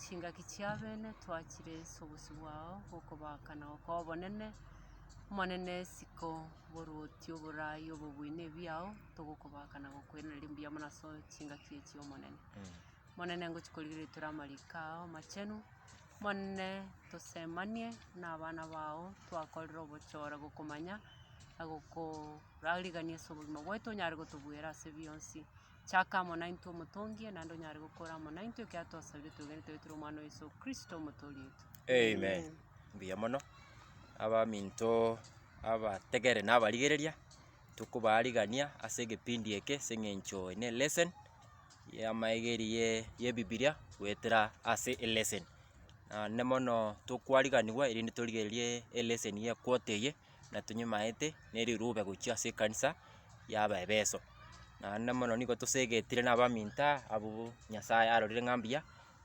chingaki chi'abene twachire ase obosio bwao bw'okobaaka na gokoa obonene, Omonene, isiko oboruoti, oboraai, obobuya nebiao, togokobaaka na gokoiraneria riria mbuya mono ase chingaki echi, Omonene. Omonene, ngochia korigereria tore amariko ao amachenu, Omonene, tosemanie nabana bao twakorire obochore gokomanya na gokorarigania ase obogima bwaito onyare gotobuera ase bionsi. Chaka amo naintwe omotongie, naende onyare gokora amo naintwe ekero atwasabire twegenete goetera Omwana o Yeso Kristo Omotoori oito. Amen. Mbuya mono. Abaminto abategere na abarigereria, tokobaarigania ase egepindi eke ase eng'encho ene lesson y'amaegeri ye y'ebibiria goetera ase elesson. Naende mono tokwariganigwa erinde torigererie elesson ye quarter eye, na tonyemanete ne rirube gochia ase ekanisa y'Abaefeso. Naende mono nigo tosegetire na abaminto abwo Nyasae arorire ng'a mbuya,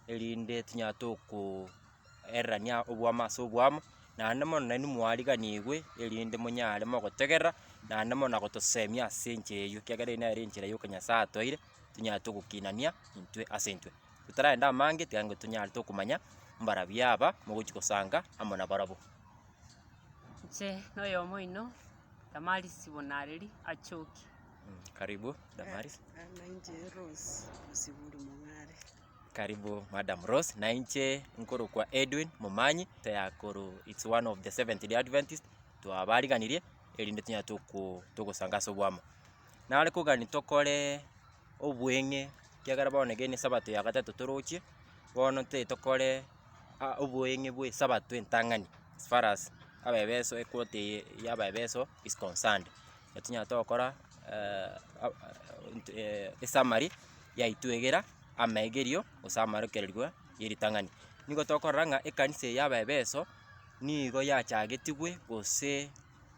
erinde tonyare tokoererania oboamo ase oboamo, naende mono nainwe mwariganigwe erinde monyare mogotegerera, naende mono na gotosemia ase enchera eyio, ekiagera eye nere enchera yoka Nyasae atoire, tonyare togokinania intwe ase intwe. Totaragenda amange, tiga intwe tonyare tokomanya mbarabwo aba mogochia gosanga amo nabarabwo. Inche noyomo oino Damaris Bonareri achoki. Karibu Damaris. Nainche Rose Mosiburi Mong'are. Karibu Madam Rose. Nainche nkorokwa Edwin Momanyi teakoro it's one of the Seventh Day Adventist twabariganirie erinde tunya toko togosanga ase obwamo. Nare kogani tokore obweng'e kiagera bono egene Sabato ya gatato torochie bono nte tokore oboeng'e bw'esabato entang'ani as far as abaebeso equote eye y'abaebeso is concerned. Nabo tonyare togokora esummary yaitwegera amaegerio gose amarokererwa y'eritang'ani. Nigo tokorora ng'a ekanisa eye y'abaebeso nigo yachagetigwe gose.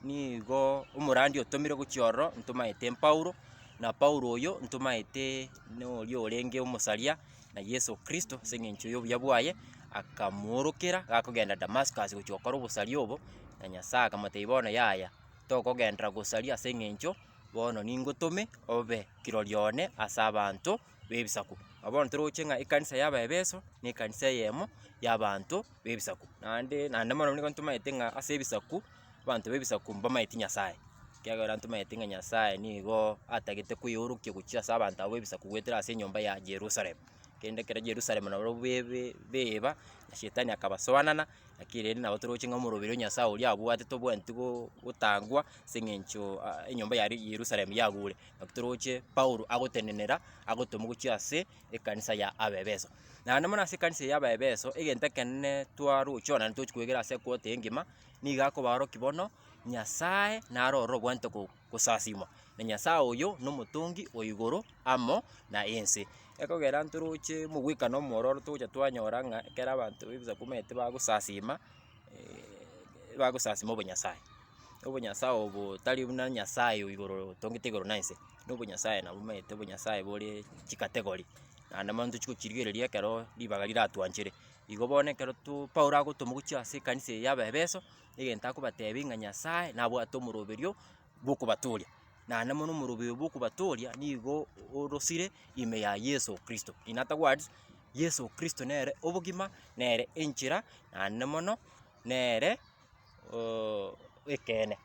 Nigo omorandi otomire gochia ororo ntomaete Paulo, na Paulo oyo ntomaete noria orenge omosaria, na Yeso Kristo ase eng'encho y'obuya bwaye, akamoorokera gakogenda Damascus gochia gokora obosaria obo, na Nyasae akamotebia bono yaya, tokogenderera gosaria ase eng'encho bono ningotome obe kirori one as'abanto. b'ebisaku. Nabo bono toroche ng'a ekanisa y'Abaefeso nekanisa eyemo y'abanto b'ebisaku, naende naende mono nigo ntomanyete ng'a ase ebisaku, abanto b'ebisaku mbamanyeti Nyasaye, ekiagera ntomanyete ng'a Nyasaye nigo atagete koyeorokia gochia ase abanto aba b'ebisaku goetera ase enyomba ya Jerusalem. Kende ekero Jerusalem nabo bebe beba, Shetani akabasoanana, lakini rende nabo toroche ng'a omoroberi o Nyasaye oria abwate tobwenereti go gotangwa ase eng'encho enyomba ya Yerusalem yagure. Naki toroche Paulo agotenenera, agotoma gochia ase ekanisa ya Abaefeso. Naende mono ase ekanisa ya Abaefeso, egento ekenene twarochia onye tochi kwegera ase ekwoti engima, nigo akobaorokia bono, Nyasae nare ore obwenerete go- gosasimwa, na Nyasae oyo nomotongi o igoro amo na ense. Ekogera ntoroche omogwekano omwororo togocha twanyora ng'a ekero abanto b'Ebisaku bamenyete bagosasima, bagosasima obonyasae. Obonyasae obo tari buna Nyasae o igoro otongete igoro na ense, na obonyasae nabo omanyete obonyasae bore chikategori, naende mono ntochi gochirigereria ekero ribaga riratwanchere. Igo bono ekero to Paulo agotwa mogochie ase ekanisa eye y'Abaefeso, egento akobatebia ng'a Nyasae nabwate omoroberio bw'okobatooria, naende mono omoroberio bw'okobatooria nigo orosire ime ya Yeso Kristo. In other words, Yeso Kristo nere obogima, nere enchera, naende mono nere. ooh ekeene,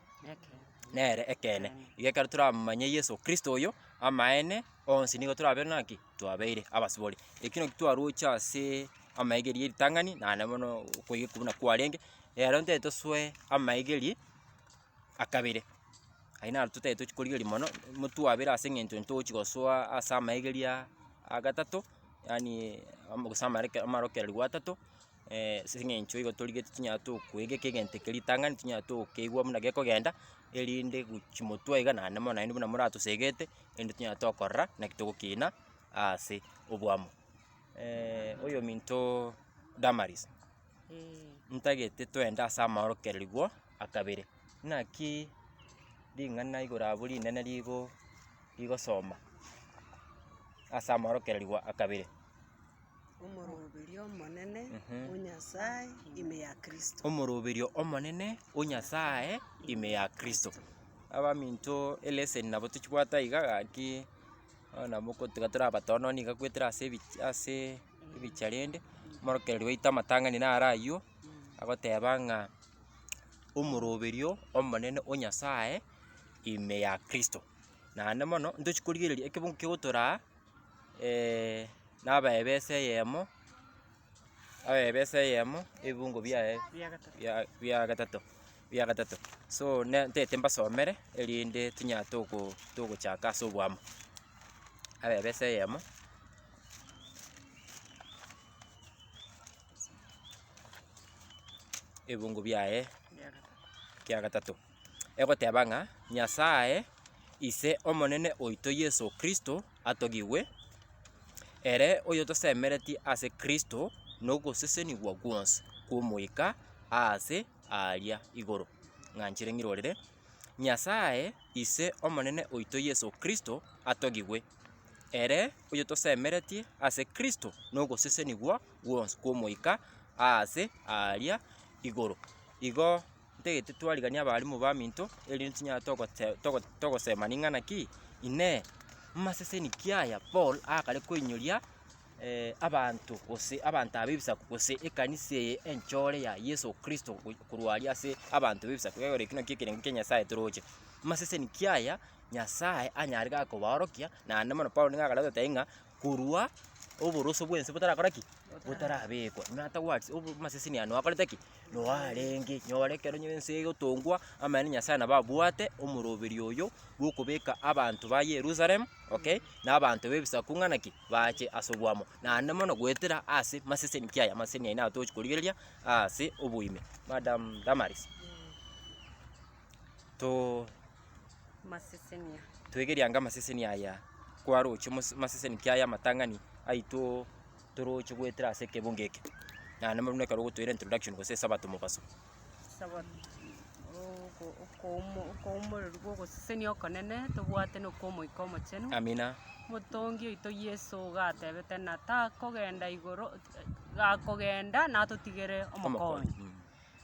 nere ekeene. Igo ekero toramomanye Yeso Kristo oyo, amaene onsi nigo torabe naki, twabeire abasibore. Eki naki twaroche aseee amaegeri y'eritang'ani, naende mono okoiya okwo buna kwarenge, ero ntari tosoe amaegeri akabere, ayio naro totari tochi korigereria mono, motwabere ase eng'encho ntochi gosoa ase amaegeri aa agatato, yaani amo gose amare amarokereri gwa tato. ase eng'encho igo torigetie tonyare tokoegeka egento eke ritang'ani, tonyare tokeigwa buna gekogenda, erinde gochi motwe iga naende mono naende buna moratosegete, erinde tonyare tokorora naki togokina aase oboamo. oyominto Damaris, ntagete toende ase amaorokererigwa a kabere, naki ring'ana igoro abo rinene rigo rigosoma ase amaorokererigwa a kabere. Omoroberio omonene, O Nyasae, ime ya Kristo. Omoroberio omonene, O Nyasae, ime ya Kristo. Abaminto eleseni nabo tochibwate aiga gaki, bono nabo ko- tiga tora abatono niga goetera ase ebi- ase ebicha rende, omorokereri waito amatang'ani naro ayio, agoteba ng'a omoroberio omonene, O Nyasae, ime ya Kristo. Naende mono, ntochi korigereria ekebungo kegotoraa, naba ebesa eyemo, naba ebesa eyemo ebibungo biaye bia gatato bia gatato, so ne ntete mbasomere erinde tinya togo togochaka ase obwamo. Naba ebesa eyemo. ebibungo biaye kia gatato. egoteba ng'a Nyasae, Ise Omonene oito Yeso Kristo atogigwe, ere oyotosemeretie ase Kristo nogosesenigwa gwonsi kw'Omoika aase aaria igoro. Ng'anchire ng'irorere. Nyasae, Ise Omonene oito Yeso Kristo atogigwe, ere oyotosemeretie ase Kristo nogosesenigwa gwonsi kw'Omoika aase aaria igoro. Igo ntagete twariganie abalimu baminto, erinde tochinyare togote- togo- togosemani ng'a naki, Inee! Maseseni ki aya Paul akare koinyoria abanto gose abanto aba b'Ebisaku, gose ekanisa eye enchore ya Yeso Kristo go korwa aria ase abanto b'Ebisaku, egere ekio naki ekerengo kia Nyasae toroche? Maseseni ki aya Nyasae anyare iga kobaorokia? Naende mono Paulo nigo akare goteba ng'a korwa oboroso bw'ense botarakora ki? Botarabekwa. Nata what? Obo maseseni aya nwakorete ki? Noo arenge, nyore ekero nyiri ense egotongwa, amaene Nyasae nabo abwate omoroberi oyo bw'okobeka abanto ba Yerusalem, okay, na abanto b'ebisaku ng'ana ki? bache ase oboamo, naende mono goetera ase maseseni. Ki aya amaseseni aye nabo togochi korigereria aase oboime. Madam Damaris, to Masesenia. toigeriange amaseseni aya kwaroche mos- maseseni ki aya amatang'ani aitoo. Toroche goetera ase ekebungo eke. Naende buna ekero ogotoira introduction gose esabato mobaso. Sabato, oko- okoumo- okoumoreru bwa ogosesenia okonene, tobwate na okwa Omoika Omochenu. Amina. Motongi oito Yeso gatebete na takogenda igoro, gakogenda natotigere omokonyi. Omokonyi. Mm.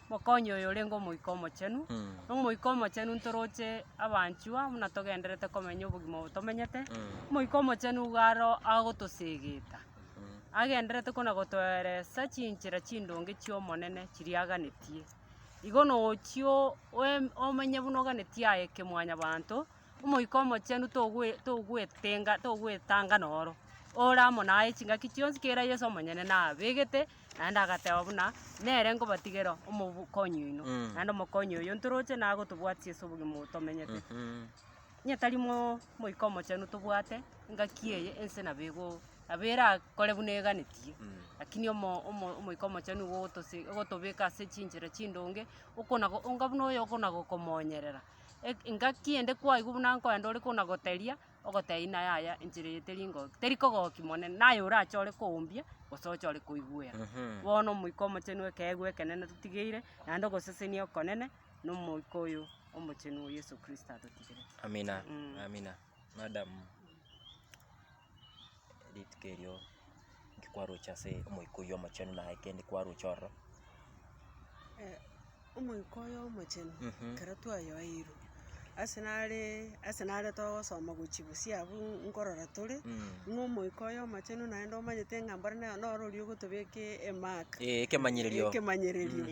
Mokonye oyo orenge Omoika Omochenu. Na Omoika Omochenu ntoroche abanchwa buna togenderete komenya obogima obo tomenyete. Omoika Omochenu nigo aro agotosegeta, agenderete kona gotoeresa chinchera chindonge chi'Omonene chiria aganetie. Igo na ochia o- oe- omenye buna oganetie aye kemwanyabanto, Omoika Omochenu togwe togwetenga togwetanga noro, ore amo naye chingaki chionsi kera Yeso omonyene nabegete Naende agateba buna, Nere nkobatigera omokonyi oino, naende omokonyi oyio ntoroche na agotobwatisia ase obogima obo tomenyete. Onye tari mo- Omoika Omochenu tobwate engaki eye, ense nabo ego- nabo erakore buna eganetie. Lakini omo- omo- Omoika Omochenu nigo ogotose- ogotobeka ase chinchera chindonge, okona go- onga buna oyo okona gokomonyerera. Eg- engaki ende kwaigwa buna nkoenda ore kona goteria, ogoteba ng'a yaya enchera eye teri ngoki, teri kogoki monene, na aye orache ore koumbia gose oche ore koigwera. Bono Omoika Omochenu ekeegwa ekenene totigeire, naende ogosesenia okonene na Omoika oyo Omochenu oo Yeso Kristo atotigerete. Amina, amina, madam. Rituko erio inki kwaroche ase omoika oyio omochenu naye kende kwaroche ororo? omoika oyo omochenu ekero twayoeirwe, ase nare ase nare togosoma gochia bosio abwo nkorora tore, ng'a omoika oyo omochenu naende omanyete ng'a mbore na- noro oria ogotobeka e- e mark. Ekemanyererio. Ekemanyererio,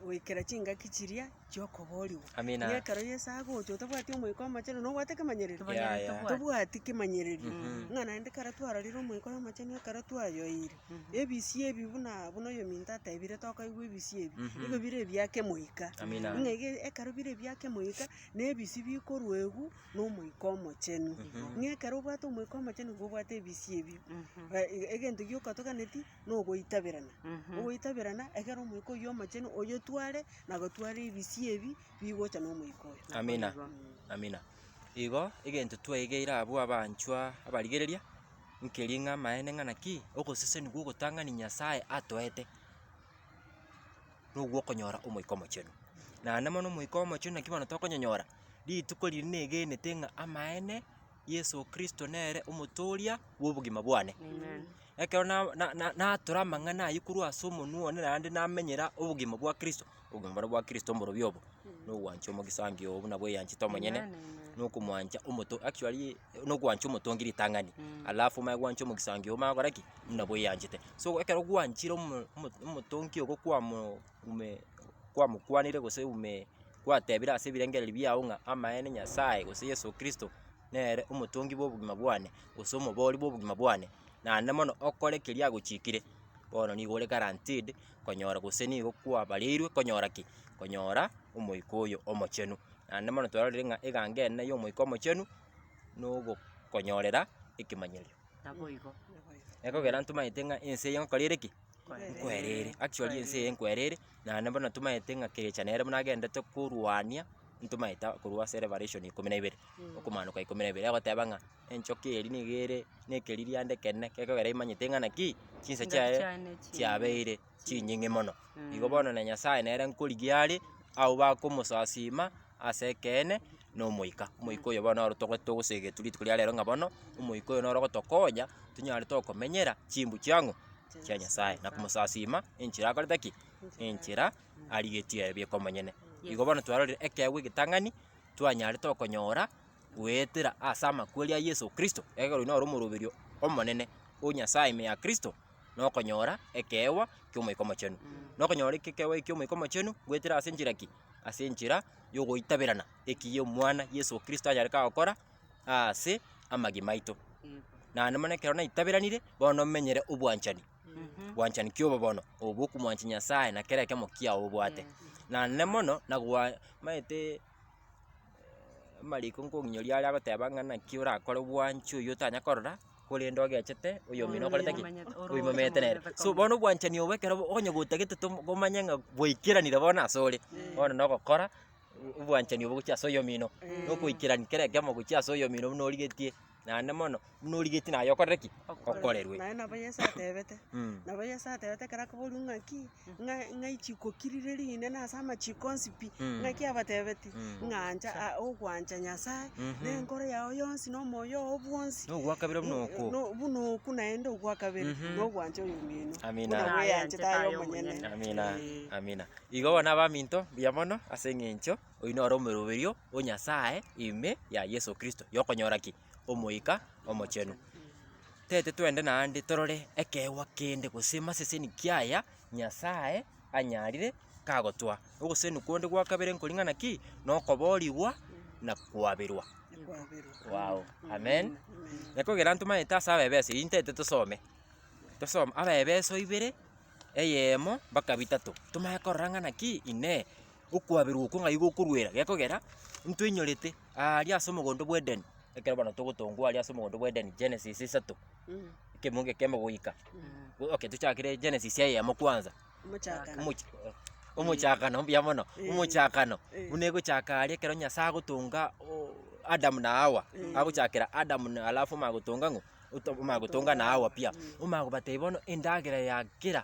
goikera chingaki chiria chi'okoboorigwa. Amina. Ng'a ekero Yeso agocha otabwati Omoika Omochenu, nobwate kemanyererio? Kemanyereri Yeah, yeah. tobwati. Tobwati kemanyererio. Ng'a naende ekero twarorire Omoika oye Omochenu ekero twayoeire, ebisio ebi buna buna oyominto atebire tokaigwa ebisio ebi, nigo bire ebia Kemoika. Amina. Ng'a ege- ekero bire ebia Kemoika, nebisi bikorwa egu na Omoika Omochenu. Ng'a ekero obwate Omoika Omochenu nigo obwate ebisio ebio. Ba- e- egento gioka toganeti. nogoitaberana, ogoitaberana ekero omoika oyio omochenu oyotware na gotwara ebisio ebi bigocha na omoika oyo. Amina, amina. Igo egento tweegeire abwo abanchwa abarigereria, nkeri ng'a amaene ng'a naki, ogoseseni gwa ogotang'ani Nyasae atoete, nogwo okonyora omoika omochenu. Naende mono omoika omochenu naki bono tokonyonyora, rituko riria negenete ng'a amaene Yeso Kristo nere omotooria bw'obogima bwane. Ekero na- na- na- natora amang'ana ayio korwa ase omonwa one naende namenyera obogima bwa Kristo, obogima bore bwa Kristo mborobio obo, na ogwancha omogisangio oo buna bweyanchete omonyene, na okomwancha omoto actually na ogwancha omotongi ritang'ani, alafu omanye gwancha omogisangio omanye gokora ki? Buna bweyanchete. So ekero gwanchire omo- omo- omotongi ogo kwamo. ume kwamokwanire gose ume gwatebire ase ebirengererio biao ng'a amaene Nyasae gose Yeso Kristo nere omotongi bw'obogima bwane gose omobori bw'obogima bwane, naende mono okore keria agochikire, bono nigo ore guaranteed konyora gose nigo kwabareirwe konyora ki? Konyora Omoika oyo Omochenu. Naende mono twarorire ng'a egango ene ya Omoika Omochenu na ogokonyorera ekemanyerio. Ekogera ntomanyete ng'a ense eye egokora ere ki? Nkwerere, actually ense eye nkwerere, naende bono tomaete ng'a kerecha nere buna agendete korwania, ntomaete a- korwa ase Revelation ikomi na ibere, okomaanoka ikomi na ibere, agoteba ng'a enchoka eria niga ere na ekeririanda ekenene, gekogera imanyete ng'a naki, chinsa chiaye chiabeire chinying'e mono. Igo bono na Nyasae nere nkorigia are, abwo bakomosasiima ase ekeene. na omoika. Omoika oyo bono noro togo togosee egetwe rituko ria rero ng'a bono, omoika oyo noro ogotokonya tonyare tokomenyera chimbu chia ng'o? chia Nyasae, na komosasiima enchera akorete ki? enchera arigetie aye bweka omonyene. Igo bono twarorire ekeegwa egetang'ani, twanyare tokonyora goetera ase amakweri a Yeso Kristo, ekero oyo noro omoroberio omonene o Nyasae ime ya Kristo. na okonyora ekeegwa ki'Omoika Omochenu. Na okonyora ekeegwa eke ki'Omoika Omochenu goetera ase enchera ki? Ase enchera y'ogoitaberana eki y'Omwana Yeso Kristo anyare kagokora aase amagima aito. Naende mono ekero naitaberanire, bono menyere obwanchani, obwanchani ki'obobono obo bw'okomwancha Nyasae na kera ekemo kiao obwate. Naende mono nagwa maete amariko nkong'inyoria are agoteba ng'a naki orakore bwanchi oyio otanya korora. korende ogechete oyomino okorete ki? Oimomerete nere. So bono obwanchani obo ekero onye gotagete tom- komanye ng'a bwaikeranire bono asore, bono nogokora obwanchani obo gochia ase oyomino, nokoikerani kera ekeomo gochia ase oyomino buna origetie naende mono, buna origetie naye okorere ki? Okorerwe. Naende nabo Yeso atebete, Mm. nabo Yeso atebete ekero akoboria ng'aki, ng'a ng'ai chikokirireria inde nase amachiiko onsi pi, Mm. ng'aki abatebetie Mm. ng'a ancha a- ogwancha Nyasae, Mhm. na enkoro yao yonsi, na omoyo oo bwonsi, Nogwakabira buna oko. no- buna oku naende ogwakabere, Mhm. na ogwancha oyomino, Amina. buna bweyanchete Aye aye omonyene. omonyene. Amina, Eh. amina. Igo bono abaminto, mbuya mono ase eng'encho oino ore omeroberio o Nyasae ime ya Yeso Kristo, yokonyora ki? Omoika Omochenu. Tete twende naende torore ekeegwa kende gose maseseni kiaya Nyasae anyarire kagotoa. Ogosenu konde gwa kabere nkori ng'ana ki? Na okoboorigwa na koaberwa. Waao, Amen. Ekogera ntomaete ase abebeso eyio ntete tosome. Tosome abebeso ibere, eyemo mpaka bitato. Tomanye korora ng'ana ki? Inee! okwaberwa okwo ng'ai gokorwera gekogera intwe inyorete aaria ase omogondo bw'Edeni, ekero bono togotongwa aaria ase omogondo bw'Edeni, Genesis isato, ekemo gekemo goika, go- okay tochakere Genesis eyemo kwanza, Omochakano. omoch omochakano mbuya mono, Eh. omochakano Eh. buna egochaka aaria ekero Nyasae agotonga o- Adamu na Hawa, Eh. agochakera Adamu na alafu omanya gotonga ng'o, oto- omanya gotonga na Hawa pi, omanya kobatebia bono endagera ya kera.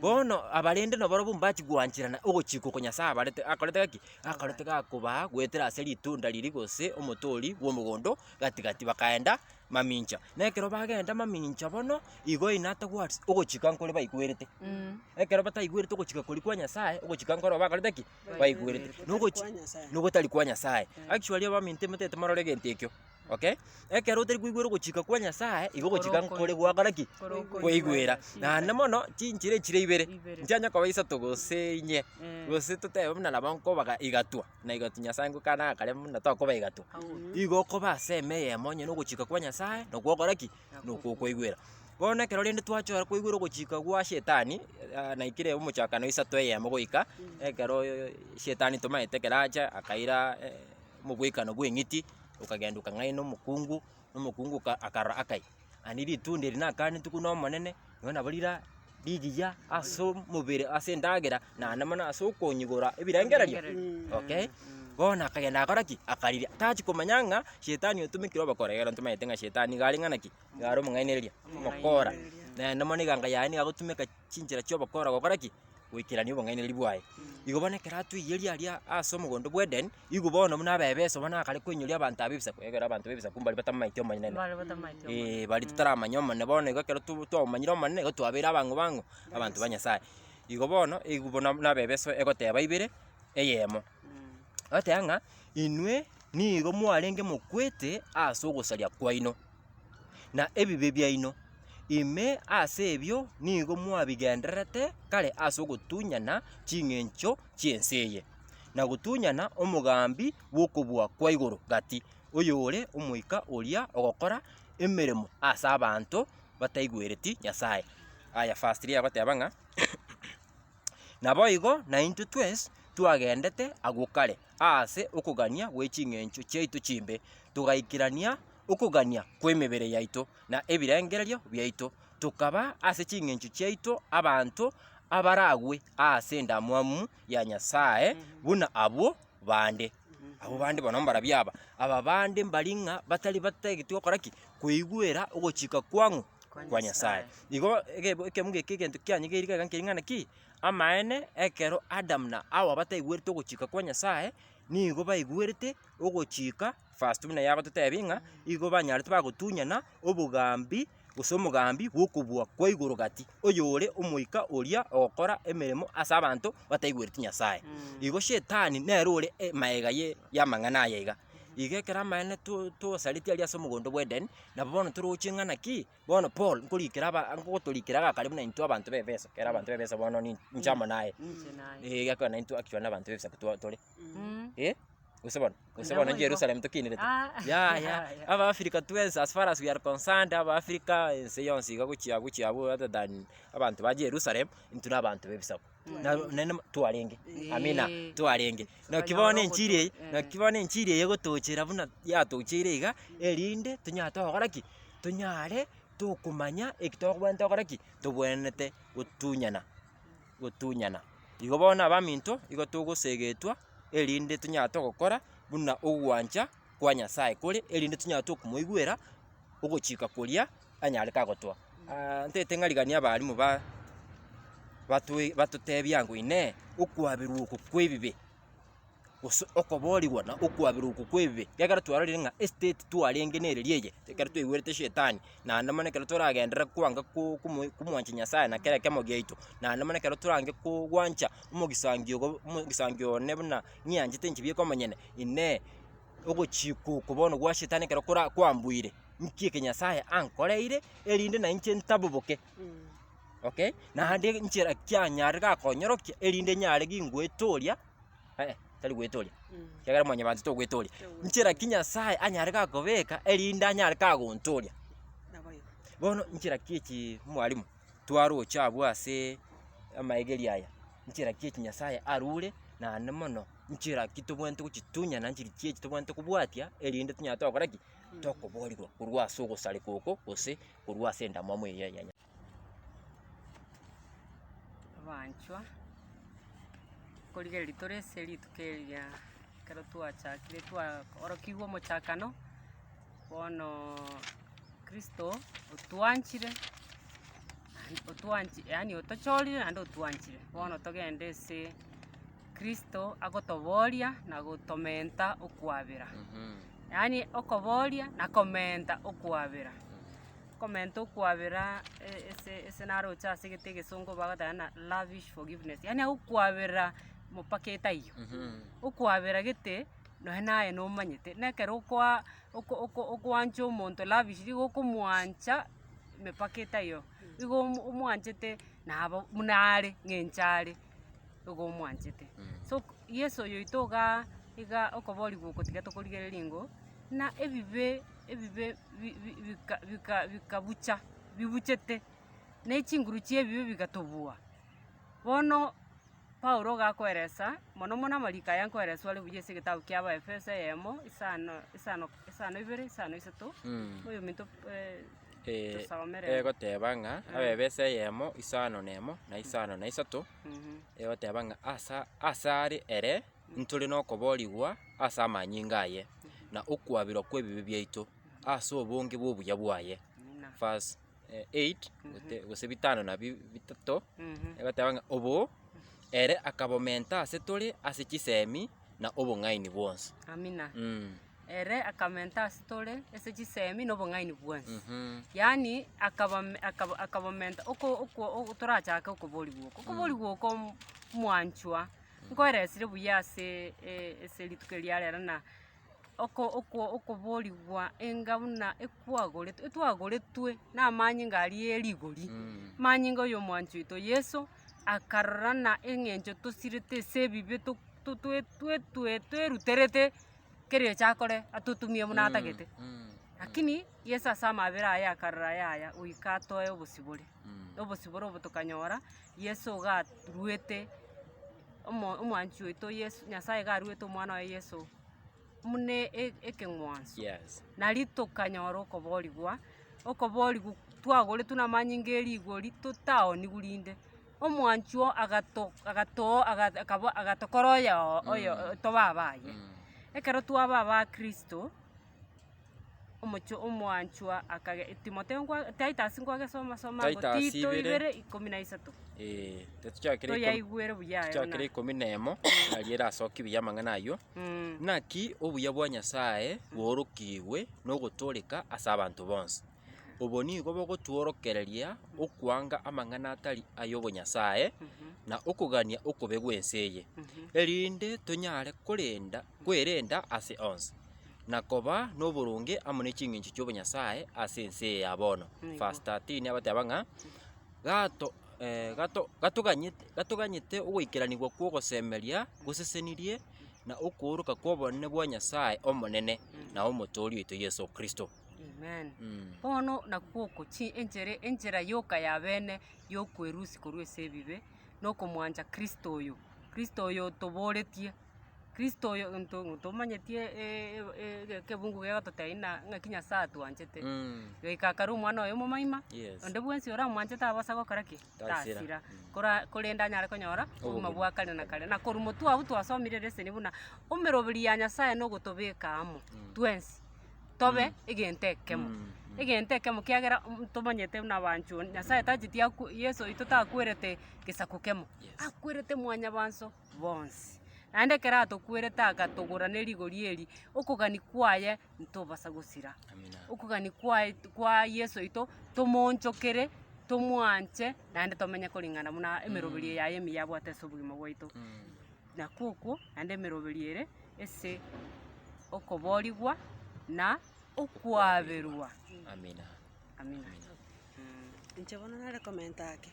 Bono abarende nabarobwo mbachia gwancherana ogochika oko Nyasae abarete akorete gaki, akorete gakobaa goetera ase ritunda riria gose omotori bw'omogondo o gati gati bakaenda mamincha. Na ekero bagenda mamincha bono, igo inatagwatisi ogochika nkore baigwerete. Ekero bataigwerete ogochika koria kwa Nyasae, ogochika nkoro bakorete ki? Baigwerete. Nogochi nogotari kwa Nyasae. Actually abaminto motete morore egento ekio. Okay? Ekero otari koigwera ogochika kwa Nyasae, igo ogochika nkore gwakora ki? Koigwera. Naende mono, chinchera echire ibere, nchianye koba isato gose inye, gose totebe buna nabo nkobaga igatwa, na igatwa Nyasae ngokana agakare buna tokoba igatwa. Igo okoba ase ime eyemo onye na ogochika kwa Nyasae, na ogokora ki? Na okokoigwera. Bono ekero rende twachora koigwera ogochika gwa shetani, naikire omochakano isato eyemo goika, ekero shetani tomaete ekero acha akaira. omogwekano bw'eng'iti okagenda okang'aina omokungu, na omokungu oka- akarora akai, aye ritunda eri nakaanetwe korwa n'Omonene, nonya nabo rira rigiya ase omobere ase endagera, naende mana ase okonyigora ebirengererio, okay. Bono akagenda agakora ki? Akarigia, tachia komanya ng'a shetani otomekire obokora, ekero ntomanyete ng'a shetani nigo are ng'ana ki? Nigo are omong'ainereria, omokora, naende mono eganga yaye nigo egotumeka. chinchera chi'obokora gokora ki? Goikerania obong'ainereria bwaye. Igo bono ekero atweiyeria aria ase omogondo bw'Eden, nigo bono buna abe ebeso bono akare koinyoria abanto abe ebisaku, egere abanto b'ebisaku mbari batamomanyeti omonene. Mbare batamanyeti omonene. Eeh baria totaramanya omonene, bono igo ekero to- twamomanyire omonene, nigo twabeire abang'u bang'u, abanto ba Nyasaye. Igo bono, eywo buna buna abe ebeso egoteba ibere, eyemo. Egoteba ng'a inwe nigo mwarenge mokwete as'ogosaria kwaino. na ebibe biaino, ime ase ebio nigo mwabigendererete kare ase ogotunyana ching'encho chi'ense eye, na gotunyana omogambi bw'okobua kwa igoro gati, oyore omoika oria ogokora emeremo ase abanto bataigwereti Nyasae. Aya firstly agoteba ng'a. Naboigo naintwe twes twagendete agwo kare aase okogania gwe ching'encho chiaito chimbe, togaikerania okogania kw'emebere yaito na ebirengererio biaito, tokaba ase ching'encho chiaito abanto abaragwe aase endamwamu ya Nyasae buna abwo. bande. Abwo bande bono mbarabio aba, aba bande mbari ng'a batari batageti gokora ki? Koigwera ogochika kwang'u kwa Nyasaye. Igo egebo ekemuga eke egento kianyegeire iga iga nkeire ng'a naki, amaene ekero Adam na Hawa bataigwerete ogochika kwa Nyasaye, nigo baigwerete ogochika, verse buna yagototebia ng'a igo banyarete bagotunyana obogambi. gose omogambi bw'okobua kwa igoro gati, oyore omoika oria ogokora emeremo ase abanto bataigweti Nyasae. Igo Shetani nere ore maega ye y'amang'ana aya iga. Iga ekero amaene to tosaretie aria ase omogondo bw'Eden, nabo bono toroche ng'a naki, bono Paul nkorikera aba ngotorikera agakare buna intwe abanto b'efeso, ekero abanto b'efeso bono ni inche amo naye, ee, ekero naintwe actually na abanto b'ebisaku twa tore, eh. Gose bono, gose bono Naboigo. Jerusalem tokinerete. Ah. Yaya, Yaya. aba Africa twensi as far as we are concerned, aba Africa ense yonsi iga gochia gochia abwo rather than abanto ba Jerusalem, intwe na abanto b'ebisaku. Na naende mo- twarenge, amina, Eh. twarenge. Naki Tukanyora bono enchiri eye, ogotoka, eh. naki bono enchiri eye egotochera buna yatocheire iga, erinde tonyare togokora ki? Tonyare tokomanya eki tokobwate gokora ki? Tobwenerete gotunyana. gotunyana. Igo bono abaminto igo togosegetwa erinde tonyare togokora buna ogwancha kwa Nyasae kore, erinde tonyare tokomoigwera ogochika koria anyarete agotoa. Aa ntagete ng'a rigiria abalimu ba batoi batotebia ngwa inee, okwaberwa oko kwa ebibe. gose okoboorigwa na okwaberwa okwo kw'ebibe, ekiagera twarorire ng'a esiteti twarenge nere ria eye, ekero twaigwete Shetani, naende mono ekero toragenderere kwanga ko- komo komwancha Nyasaye na kera ekemogo giaito, naende mono ekero torange kogwancha omogisangio obo omogisangio one buna ng'ianchete inche bieka omonyene, inee ogochika oko bono gwa Shetani ekero kora kwambuire, nki eke Nyasaye ankoreire erinde na inche ntaboboke okay, naende nchera kianyarire gakonyorokia erinde nyare gingoetoria. eh, tari gwetoria, ekiagera mwanyabanto togwetoria, nchera ki Nyasae anyare gakobeka erinde anyare kagontooria. Bono nchera ki echi mwarimu twaroche abwo ase amaegeri aya, nchera ki echi Nyasae arure naende mono, nchera ki tobwenerete gochitunyana, nchera ki echi tobwenerete kobwatia erinde tonyare togokora ki? Tokoborirwa korwa ase ogosareka oko gose korwa ase endamwamu eye ya Nyasae. Abanchwa, nkorigereria tore ase rituko eri ria ekero twachakire twaorokigwa omochakano, bono kristo otwanchire naende otwanchi yaani otochorire naende otwanchire. Bono togende ase kristo agotoboria na gotomenta okwabera. Yaani okoboria na komenta okwabera. Okomenta okwabera ese ese naroche ase egete egesongo bagoteba ng'a lavish forgiveness, yaani agokwabera mopaka etaiyo. Okwabera gete nonye naye nomanyete, na ekero okoa oko oko okoancha omonto lavishly igo okomwancha mepaka etaiyo, igo omo omwanchete nabo buna are ng'a enche are, igo omwanchete. So yeso oyoito igaa iga okoboria gwokotiga tokorigereria ng'o buna ebibe. ebibe bikabucha, bibuchete, ne chinguru chi'ebibe bigatubua. Bono Paulo gakoeresa mono mono amariko aya nkoereswa are buya ase egetabu kia Abaefeso eyemo, isano, isano, isano ibere, isano isato, oyominto tosomere. egoteba ng'a Abaefeso eyemo, isano na emo, na isano na isato, egoteba ng'a asa asare ere. ntore nokoboorigwa ase amanyinga aye, na okwabirwa kw'ebibe biaito ase obonge bw'obuya bwaye. Verse 8, gote- gose bitano na bi- bitato, egoteba ng'a obo ere akabomenta ase tore ase chisemi na obong'aini bwonsi. Amina. Mm. Ere akamenta ase tore ase chisemi na obong'aini bwonsi. Mhm. Yaani akabame akaba akabamenta oko oko ogo torachake okoborigwa oko. Okoborigwa oko mwanchwa. Nkweresire buya ase ase rituko eria rero na oko okwo okoborigwa enga buna ekwagoretwe etwagoretwe namanyinga aria e rigori, manyinga oyo omwanchi oito Yeso akarora na eng'encho tosirete ase ebibe to to twe twe twe tweruterete keria ocha akore atotumie buna atagete. Lakini Yeso ase amabera aye akarora yaya goika atoe obosibore, obosibore obo tokanyora. Yeso garuete omo omwanchi oito Yeso Nyasaye garuete omwana oye Yeso buna e- ekeng'wanso. Yes. Nari tokanyora okoborigwa, okoborigwa twagoretwe namanyinga e rigori totaoniwu rinde, omwanchi oo agato agato aga akaba agatokora oyo oyo toba abaye. Ekero twaba abakristo. omochie omwanchwa akage Timotheo nkwa Titus nkwagesoma soma igo Titus Tito ibere. ibere ikomi na isato Eh, tochakere ikomi- toyaigwere buya aye tochakere buna. ikomi na emo nari erasoki buya amang'ana ayio Mm. Naki obuya bwa Nyasae boorokigwe nogotooreka ase abanto bonsi. Obo nigo bogotworokereria okwanga amang'ana atari ay'obonyasae, na okogania okobe gw'ense eye, erinde tonyare korenda kwerenda ase onsi, na koba noboronge amo ne chingencho chi'obonyasae ase ense eye ya bono. Nigo. Verse 13 abateba ng'a gato eh, gato gatoganyete gatoganyete ogoikeranigwa kw'ogosemeria gosesenirie, na okooroka kw'obonene bwa Nyasae Omonene, na Omotoori oito Yeso Kristo. Amen. Bono nakw'oko chi- enchera enchera yoka y'abene y'okwerusia korwa ase ebibe, nokomwancha Kristo oyo, Kristo oyo tobooretie, Kristo oyo nto ntomanyetiee e- e- e- ege- egebungu gegototebi ng'a ng'aki Nyasaye atwanchete, goika akare omwana oye omomoima, Yes. onde bwensi oramwanche tabasa gokora ki? Tasira. Tasira, kora korende anyare konyora obogima Obogima. bwa kare na kare. Na korwa motwe agwo twasomire leseni buna, emeroberio ya Nyasaye nogotobeka amo twensi, tobe egento ekemo, egento ekemo kiagera omonto ntomanyete buna abanchwa onde, Nyasaye tacheti akwo Yeso oito takwerete gesaku kemo, akwerete mwanyabanto bonsi. Naende ekero atokwerete agatogora ne rigori eri, okogani kwaye ntobasa gosira. Okogani kwaye kwa Yeso oito tomoonchokere, tomwanche, naende tomenye koring'ana buna emeroberio yaye emiya abwate ase obogima bwaito. na kukwo, naende emeroberio ere ase okoboorigwa na okwaberwa. Amina. Inche bono nare komenta ake,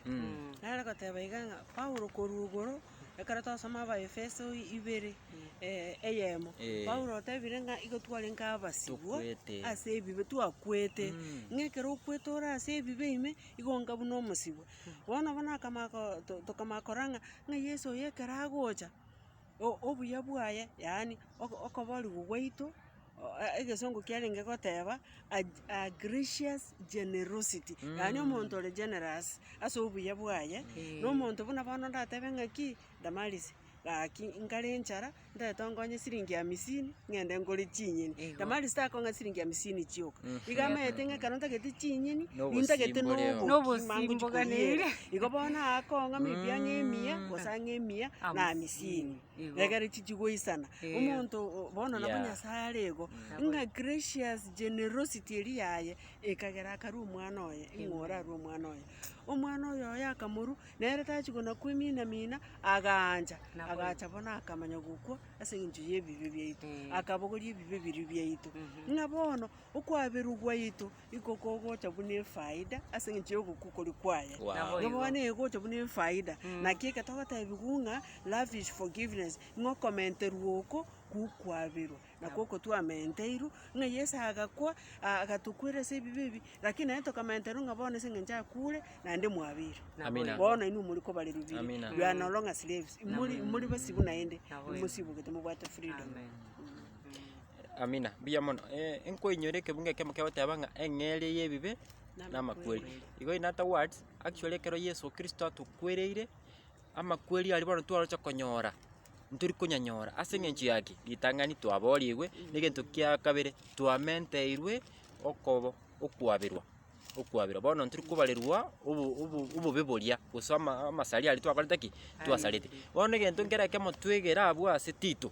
nare goteba iga ng'a Paulo korwa igoro, ekero twasoma Abaefeso ibere eyemo, Paulo otebire ng'a igo twarenge abasibwa ase ebibe, twakwete. Ng'a ekero okwete ore ase ebibe ime, igo onga buna omosibwa. Bono bono akamanya ko- to- tokamanya korora ng'a ng'a Yeso oyo ekero agocha, o- obuya bwaye, yaani oko- okoborigwa gwaito, o- e- egesongo kiarenge goteba, a ge- a gracious generosity, yaani omonto ore generous ase obuya bwaye, na omonto buna bono ndatebe ng'aki, Damaris, gaki inkare enchara, Ndetongonye siringi hamisini, ng'ende ngore chinyeni. Igo. Damari sitakonga siringi hamisini chioka. Iga amaete ng'a ekero ntagete chinyeni, Nobosimbo nintagete reo. noboki, Nobosimbo mangochi gane koriera. ere. Igo bono akonga maybe ang'e emia, Mm. gose ang'e emia na Hamisini. hamisini. Igo. Egere chichi goisana. Eh. Omonto o- bono nabo Yeah. Nyasae are igo, Nabo. ng'a gracious generosity eria yaye, ekagera akarua omwana oye, ing'o Amen. orarue omwana oye. Omwana oyo oye akamorua, Nere tachigwa na kwemina-mina, agaancha, agacha bono akamanya gokwa ase engencho y'ebibe biaito, akabogoria ebibe biria biaito. Ng'a bono okwaberwa gwaito iko kogocha buna efaida ase engencho y'ogokwa okoria kwaye. Ng'a bono egocha buna efaida. Naki eke togotebiwa ng'a love is forgiveness, ng'a okomenterwa oko, gokwaberwa. na kw'ogotwa ameenteirwe, ng'a Yeso agakwa, agatokwera ase ebibe ebi, lakini naende tokameenterwa ng'a bono ase engencho akuure, naende mwabeirwe. Amina. Bono inwe mori kobare rubiri, Amina. you are no longer slaves, imori imori basibu naende, imosibugete mobwate freedom. Amina, mbuya mono. Eh, nkoinyore ekebungo ekemo kegoteba ng'a eng'eria y'ebibe namakweri. Igo in other words, actually ekero Yeso Kristo atokwereire, amakweri aria bono twaroche konyora. ntori konyanyora. Ase eng'encho yaki ritang'ani twaborigwe, na egento kia kabere twamenteirwe okobo okwaberwa okwaberwa. Bono ntori kobarerwa obo obo obobe boria, gose ama amasari aria twakorete ki? Twasarete. Bono egento nkere ekemo twegere abwo ase Tito,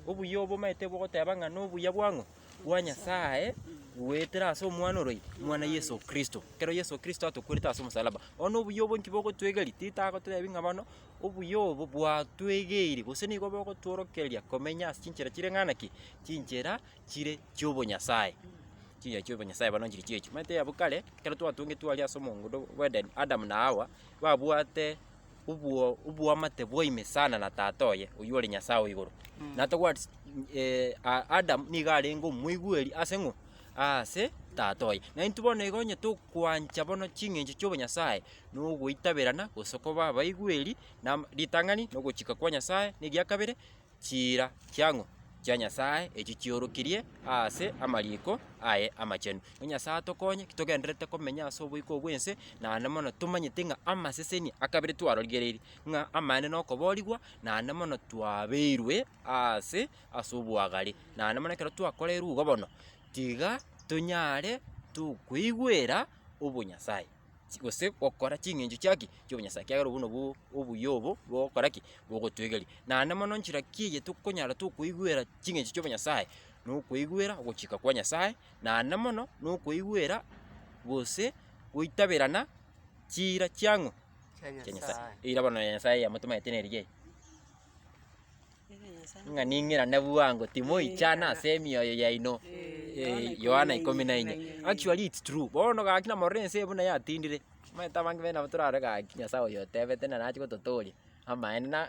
obuya obo omanyete bogoteba ng'a nobuya bwa ng'o? Bwa Nyasaye goetera ase omwana oroyio, omwana Yeso Kristo. Ekero Yeso Kristo atokwerete ase omosalaba. Bono obuya obwo nki bogotwegeria? Tito agotebi ng'a bono. Obuya obo bwatwegeirie, gose nigo bogotworokereria komenya ase chinchera chire ng'ana ki? Chinchera chire chi'obonyasae. Chinchera chi'obonyasae bono nchiri chi'echi. Omanyete abwo kare, ekero twatwengetwe aria ase omongondo bw'Eden, Adam na Hawa, babwate obwo oboamate bwa ime sana na Tata oye, oyio ore Nyasae o igoro. Natobwati Adam nigo arenge omoigweri ase ng'o? Aase Tata oye. Naintwe bono igo onye tokwancha bono ching'encho chi'obonyasae, nogoitaberana gose koba abaigweri na ritang'ani na ogochika kwa Nyasae, na eria kabere, chiira chiang'u chia Nyasae echio chiorokirie ase amariiko aye amachenu. Ng'a Nyasae atokonye ki togendererete komenya ase oboiko oo bw'ense, naende mono tomanyete ng'a amaseseni a kabere twarorigereiri ng'a amaene na okoboorigwa naende mono twabeirwe aase ase obwagare. Naende mono ekero twakoreirwe igo bono, tiga tonyare tokoigwera obonyasae. gose gokora ching'encho chia ki? Chi'obonyasae, ekiagera obwo nabwo obuya obo bogokora ki? Bogotwegeria. Naende mono nchera ki eye tokonyara tokoigwera ching'encho chi'obonyasae, na okoigwera ogochika kwa Nyasae, naende mono na okoigwera gose goitaberana chiira chiang'o? chia Nyasae. Eira bono ya Nyasae eyamotomete nerigiya eye. ng'a ning'irane bwango timoichana ase emioyo yaino. Eh, Yohana ikomi na inye. Actually it's true. Bono gaki namorora ense eye buna yatindire. Omanyete abange baino nabo torare gaki Nyasae oyo otebete naro ache gototooria. Amaene na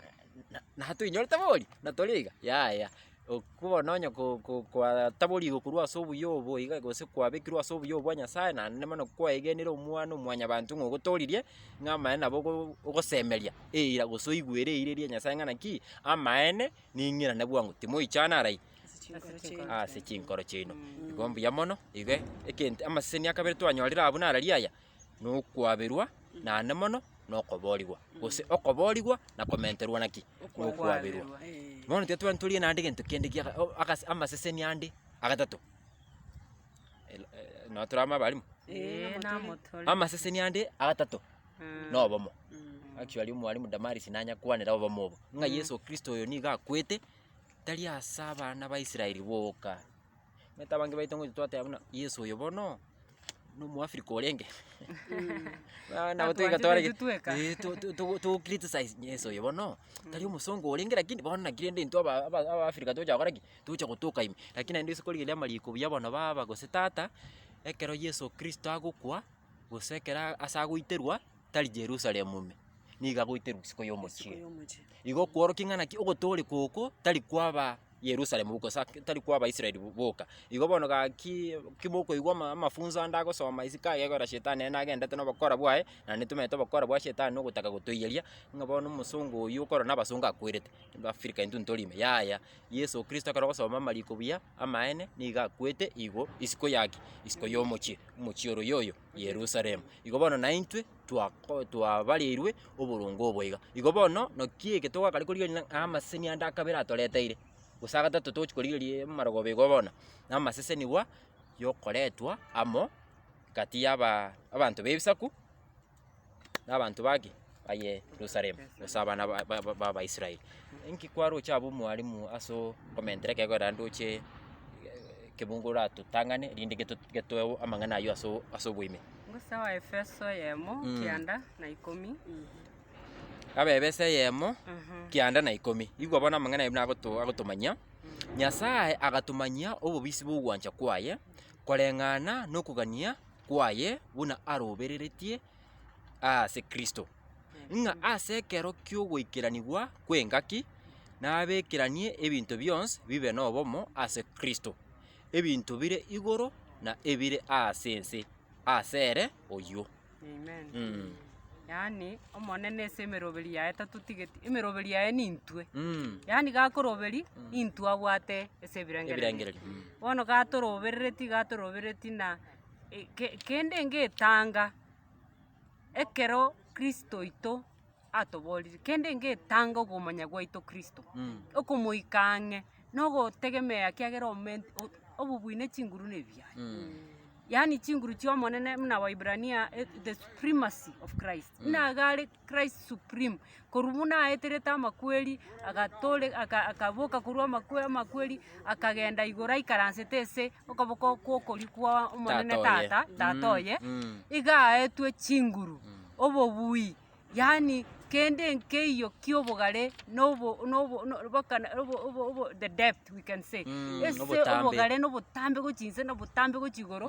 na- natoinyorete bori? Natori iga? Yaya. Okwo bono onye ko- ko- kwataborigwe korwa ase obuya obo iga gose kwabekirwe ase obuya obo bwa Nyasae, naende bono kwaegenire omwana omwanyabanto ng'a ogotooririe, ng'a amaene nabo ogo- ogosemeria eira gose oigwere eira eria ya Nyasae ng'a naki, amaene ning'irane bwango, timoichana arai ase chinkoro chiaino. Igo mbuya mono, iga ekento amaseseni akabere twanyorire abwo nararia aya. nokwaberwa, naende mono nokoboorigwa, gose okoboorigwa na komenterwa naki? Nokwaberwa. Bono tiga twabera ntorire naende gento kende giaka o- agase amasesemi ande agatato el- e- nabo tore amo abalimu? Ee, namotore. Amasesemi ande agatato Mm. nobomo. Mm. Actually omwalimu Damaris nanyakwanera obomo obo, ng'a Yeso Kristo oyo nigo akwete, tari as'abana ba Israeli boka. omanyete abange baito ngoite twateba buna Yeso oyo bono, na omoafrika orenge Bono nabo toigwete bare Atwanchete intwe eka. eh to- to- to- to criticize Yeso oyo bono, tari omosongo orenge lakini bono naki rende intwe aba- aba- abaafrika tocha gokora ki? Tocha gotoka ime. Lakini naende rituko riria riamanya riiko buya bono baba gose tata, ekero Yeso Kristo agokwa, gose ekero a- ase agoiterwa, tari Jerusalemu ime, nigo agoiterwa isiko Isiko y'omochie. y'omochie. Igo okworokia ng'a naki ogotooreka oko, tari kwaba. Yerusalemu boka, gose tari kwa Abaisraeli boka. Igo bono gaki kimokoigwa amafunso ande agosoma isiko agekora Shetani ere nagendete na obokora bwaye, na intwe tomenye obokora bwa Shetani na ogotaka gotoiyeria, ng'a bono omosongo oyio okorwa na abasongo akwerete, Africa intwe ntori ime, yaya. Yeso Kristo ekero ogosoma amariko buya amaene, nigo akwete igo isiko yaki, isiko yomochie, omochie oro yoyo. Yerusalemu. Igo bono naintwe twako twabareirwe oboronge obo iga. Igo bono naki eke togakare korigereria ng'a amaseseni ande a kabere atoreteire, gose a gatato togochia korigereria amarogoba igo bono, na amasesenigwa yokoretwa amo gati yaba abanto b'ebisaku. nabanto bake baye Yerusalemu, gose abana b'Abaisraeli, inki kwaroche abe omwalimu ase okomentera ekegogo naende oche kebungo oratotang'ane erinde getoe amang'ana ayio ase oboime. Ngosa Abaefeso eyemo kianda na ikomi. Abaefeso eyemo kianda na ikomi. Igwa bono amang'ana ayio agotomanyia, Nyasae agatomanyia obobisi bw'ogwancha kwaye koreng'ana nokogania. kwaye buna arobereretie ase Kristo, ng'a ase ekero ki'ogoikeranigwa kw'engaki nabekeranie ebinto bionsi bibe nobomo ase Kristo, ebinto bire igoro na ebire ase ense ase ere oyio. Amen. Mm. Yaani, Omonene ase emeroberi yaye tatotigeti, emeroberi yaye nintwe. Mm. Yaani gakoroberi, intwe abwate ase ebirengererio. Ebirengererio, mm. Bono gatoroberereti, gatoroberereti na kende ngetanga ekero kristo oito atoborire, kende ngetanga okomanya gwaito kristo, okomoika ang'e na ogotegemea ekiagera omoment obobwine chinguru na ebiyayi. Yaani chinguru chi'omonene buna Waebrania the supremacy of Christ, buna iga are. Christ Supreme, korwa buna aeterete amakweri, agatore, aka, akaboka korwa amakwe, amakweri, akagenda igoro aikaransete ase okoboko kw'okorio kwa Omonene Tata oye. Tata, Tata Mm, oye, mm. iga aetwe chinguru, obobui, yaani kende nkeiyo ki'obogare na obo, na obo, na mpaka na obo, obo, obo, the depth we can say, Mm, ase obotambe. obogare na obotambe gochia inse na obotambe gochia igoro.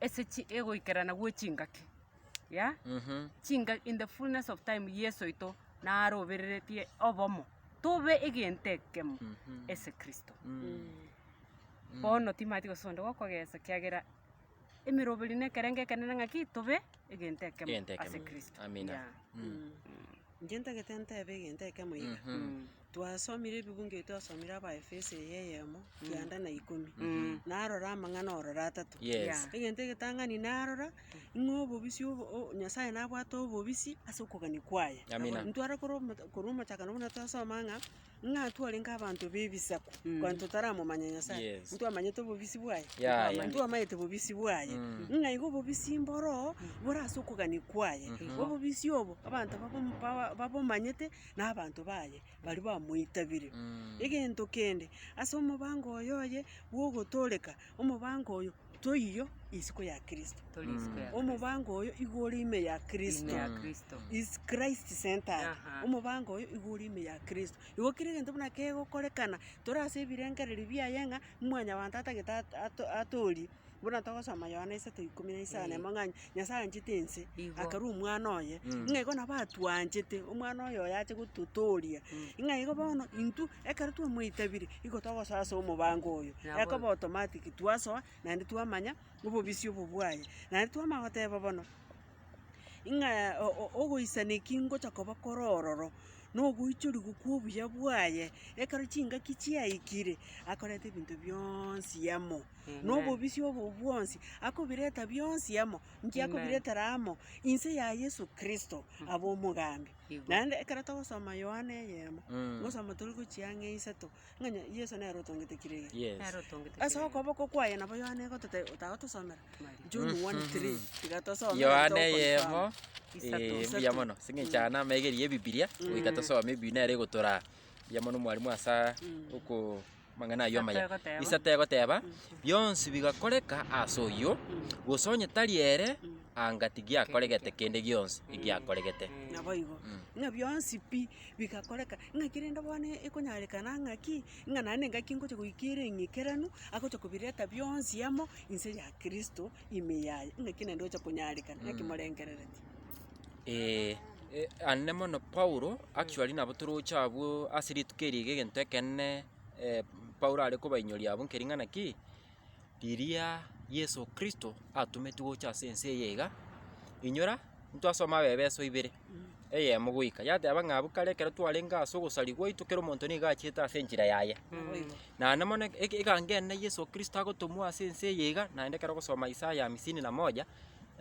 ase chi egoikerana gwe chingaki, yeah? Chinga in the fullness of time Yeso oito narobereretie obomo, tobe egento ekemo ase Kristo. Bono timanyeti gose onde gokogesa kiagera emeroberi na ekerengo ekenene ng'aki tobe egento ekemo Egento ekemo. ase Kristo. Amina. Yeah. Inche ntagete ntebe egento ekemo iga. Twasomire ebibungo ebio twasomire Abaefeso eye eyemo, kianda na ikomi. Narora amang'ana ororo atato. Yes. Egento egetang'ani narora, ng'a obobisia obo- o- Nyasae nabwate obobisi ase okogania kwaye. Amina. Ntware korwa omo- korwa omochakano buna twasoma ng'a, ng'a twarenge abanto b'ebisaku, kwanto totaramomanya Nyasae, Yes. ntwamanyete obobisi bwaye, Ya, ya. ntwamaete obobisi bwaye, Mm. ng'a igo obobisi mboro bore ase okogania kwaye. Obobisi obo abanto babomo- ba- babomanyete. na abanto baye baria bamoitabirie. Egento kende, ase omobango oyo oye bw'ogotooreka, omobango oyo toiyo isiko ya Kristo. Omobango oyo igo ore ime ya Kristo. Is Christ-centered. Omobango oyo igo ore ime ya Kristo. Igo kera egento buna kegokorekana, tore ase ebirengererio biaye ng'a, mwanyabanto atagete at- ato- atoorie, Buna togosoma Yohana isato ikomi na isano, emo ng'a Nyasaye anchete ense, Igo. akarua omwana oye, Mm. ng'a igo nabo atwanchete, omwana oye oye ache gototooria. Mm. Ng'a igo bono intwe, ekero twamoitabire, igo togosoa ase omobango oyo. Nabo- Ekoba automatic twasoa, naende twamanya obobisi obo bwaye. Naende twamanya goteba bono, ng'a o- o- ogoisana eki ngocha koba kore ororo, na ogoichorigwa kwa obuya bwaye, ekero chingaki chiaikire, akoreta ebinto bionsi amo. nobobisi obo bwonsi, akobireta bionsi amo, nki akobiretera amo? Inse ya Yesu Kristo abe omogambi. Igwa. Naende ekero togosoma Yohana eyemo, Mm. togosoma tore gochia ang'e isato, ng'a onye Yeso nere otongete kera egecho. Yes. Nero otongete Ase kera okoboko kwaye nabo Yohana egotete otagotosomera. Maria. John 1:3 tiga tosome Yohana nabo tokonsoma. eyemo Isato. eh, Isato. mbuya mono sing'encha aya namaiga eria ya ebibiria goika tosome ebi nere egotoraa mbuya mono omwarimu asa Mm. oko Amang'ana ayio amaya. Egoteeba. Isa tegoteeba, Bionsi bigakoreka ase oyio, gose onye tari ere, anga tigiakoregete kende gionsi egiakoregete. Naboigo. Ng'a bionsi pi bigakoreka, ng'aki rende bono ekonyarekana ng'aki, ng'a naende engaki ngocha goika ere eng'ekeranu, agocha kobireta bionsi amo inse ya Kristo ime yaye. Ng'aki naende ocha konyarekana, ng'aki morengerereti. Ee, ande mono Paulo, actually nabo toroche abwo ase rituko eri iga egento ekenene eh, Paulo are kobainyoria abwo nkering'ana ki, riria Yeso Kristo atometwe gocha ase ense eye iga, inyora ntwasoma abe ebeso ibere, eyemo goika yateba ng'a abwo kare ekero twarenge ase ogosarigwa gwaito kera omonto nigo achiete ase enchera yaye. Naende mono eg- eg- egango enene Yeso Kristo agotomwa ase ense eye iga, naende ekero ogosoma Isaya hamsini na moja,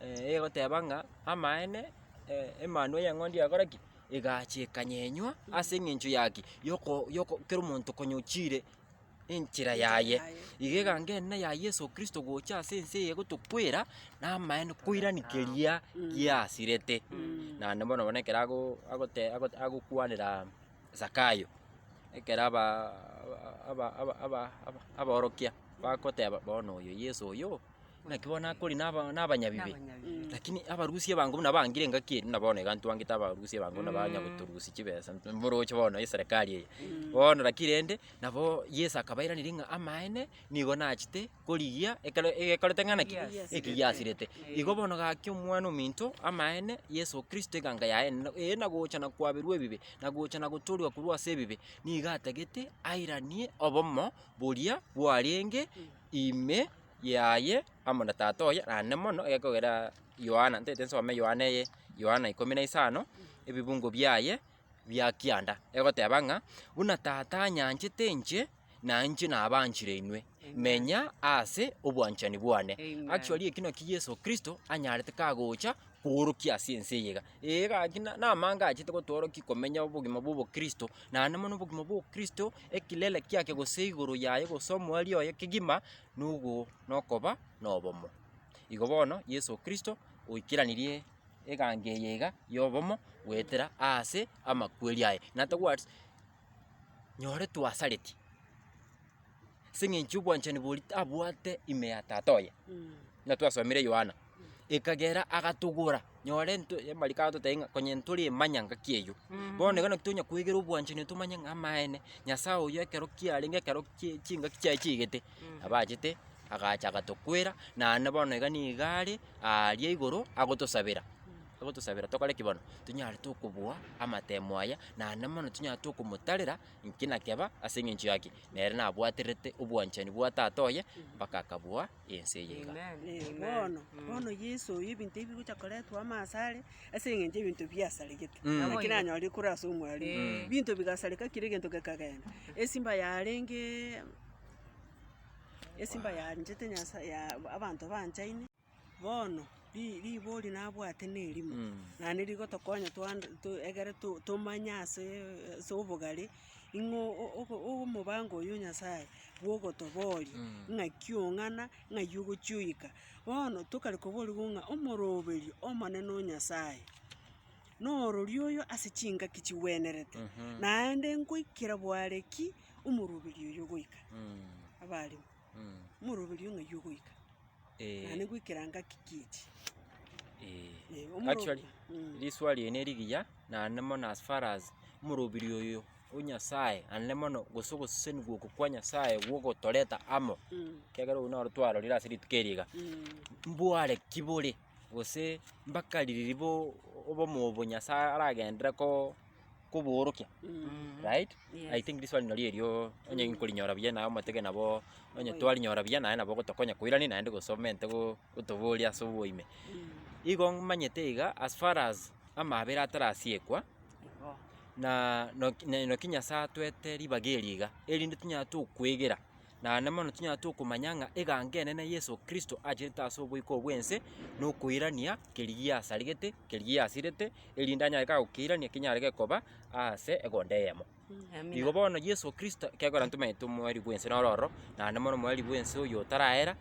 eh, egoteba ng'a. Amaene, Emanwa y'eng'ondi yagora ki? Egachia ekanyenywa ase eng'encho ya ki? Yoko yoko kera omonto konyochire enchera yaye. Iga egangenina ya Yeso Kristo gocha ase ense eye egotokwera, na amaene koirani keria giasirete. Naende bono bono ekero ago agote agote agokwanera Zakayo, ekero aba aba aba aba aba abaorokia bagoteba bono oyo Yeso oyo. Naki bono nakori naba nabanyabibe, lakini abarusia ebango buna bangire engaki eria, buna bono iga ntwangete abarusia ebango buna banya gotorusia chibesa, nto- mboroche bono eserekari eye, bono naki rende, nabo Yeso akabairaneria ng'a amaene nigo nachete korigia ekero egekorete ng'a naki? Ekigiasirete. Ekigiasirete. Igo bono gaki omwana ominto, amaene, Yeso Kristo egango yaye na eye na gocha na kwaberwa ebibe, na gocha na gotoorigwa korwa ase ebibe, nigo atagete airanie obomo boria bwarenge. ime yaye amo na tata oye naende mono egekogera Yohana, ntaete nsome Yohana eye, Yohana ikomi na isano, ebibungo biaye bia kianda, egoteba ng'a buna tata anyanchete inche, na inche nabaanchire inwe, menya ase obwanchani bwane. Actually eki naki Yeso Kristo anyarete kagocha koorokia ase ense eye iga. Ee, gaki na- namange achete gotworokia komenya obogima bw'obokristo, naende mono obogima bw'obokristo, ekilele kiaye gose igoro yaye gose omoerio oye kegima, nogo nokoba nobomo. Igo bono Yeso Kristo oikeranirie eganga eye iga y'obomo goetera aase amakweri aye. Natogwati. nyore twasareti, ase eng'encho obwanchani boria tabwate ime ya tata oye, buna twasomire Yohana, ekagera agatogora, nyore nto amariko agototebia ng'a konye ntore emanya ngaki eyio, bono iga naki tonya kwegera obwanchani tomanye ng'a amaene, Nyasae oyo ekero kiarenge ekero kie chingaki chiaye chiaigete, nabo achete agacha agatokwera, naende bono iga niga are aaria igoro agotosabera, agotosabera tokore ki bono? Tonyare tokobua amatemo aya, naende mono tonyare tokomotarera nki na keba ase eng'encho ya ki? Nere nabwaterete obwanchani bwa tata oye mpaka akabua ense eye iga. Eh, bono, bono Yeso oyo ebinto ebi bigocha koretwa amo asare, ase eng'encho ebinto biasaregete, Mm. naki Naboigo. nanyorire korwa ase omwarimu. Eh. Binto bigasareka kera egento gekagenda. Esimba yarenge, esimba yanchete Nyasae, ya abanto banchaine. Bono, ri- ribori nabwate nerimo, na nirigotokonya twan- to- egere to- tomanye ase ase obogare, ing'o o- o- o- omobango oyo Nyasaye bwogotoboria, ng'aki ong'ana, ng'ai ogochia oika. Bono tokare koboriwu ng'a omoroberio omonene o Nyasaye, norori oyo ase chingaki chigwenerete, naende nkoikera bware ki omoroberio oyo ogoika, abarimo, omoroberio ng'ai ogoika. naende goikera ngaki kiti. Actually, riswa riane rigiya naende mono as far as omorobiri oyo o Nyasaye naende mono gose ogosesenigwa oko kwa Nyasaye gwa ogotoreta amo, ekiagera oyio naro twarorire ase rituko eri iga, mbware ki bore? gose mpaka riria bo obomo obo Nyasaye aragenderere koo koboorokia right? Yes. I think riswali nario erio onye nkorinyora buya naye omotebe nabo onye twarinyora buya naye nabo ogotokonya koirania naende gose omente go- gotoboria ase oboime. Igo mmanyete iga as far as amaabera atarasiekwa Igo. na noki ne- noki Nyasaye atwete ribaga eri iga, erinde tonyare tokwegera. Naende mono tinyara tokomanya ng'a egango enene Yeso Kristo achenete ase oboiko bw'ense nokoirania keria giasarigete, keria giasirete, erinde anyare iga gokeirania kinyare gekoba ase egonda eyemo. Igo bono Yeso Kristo ekegora intwe tomanyete omorwari bw'ense noro ororo, naende mono omorwari bw'ense oyo otarahera.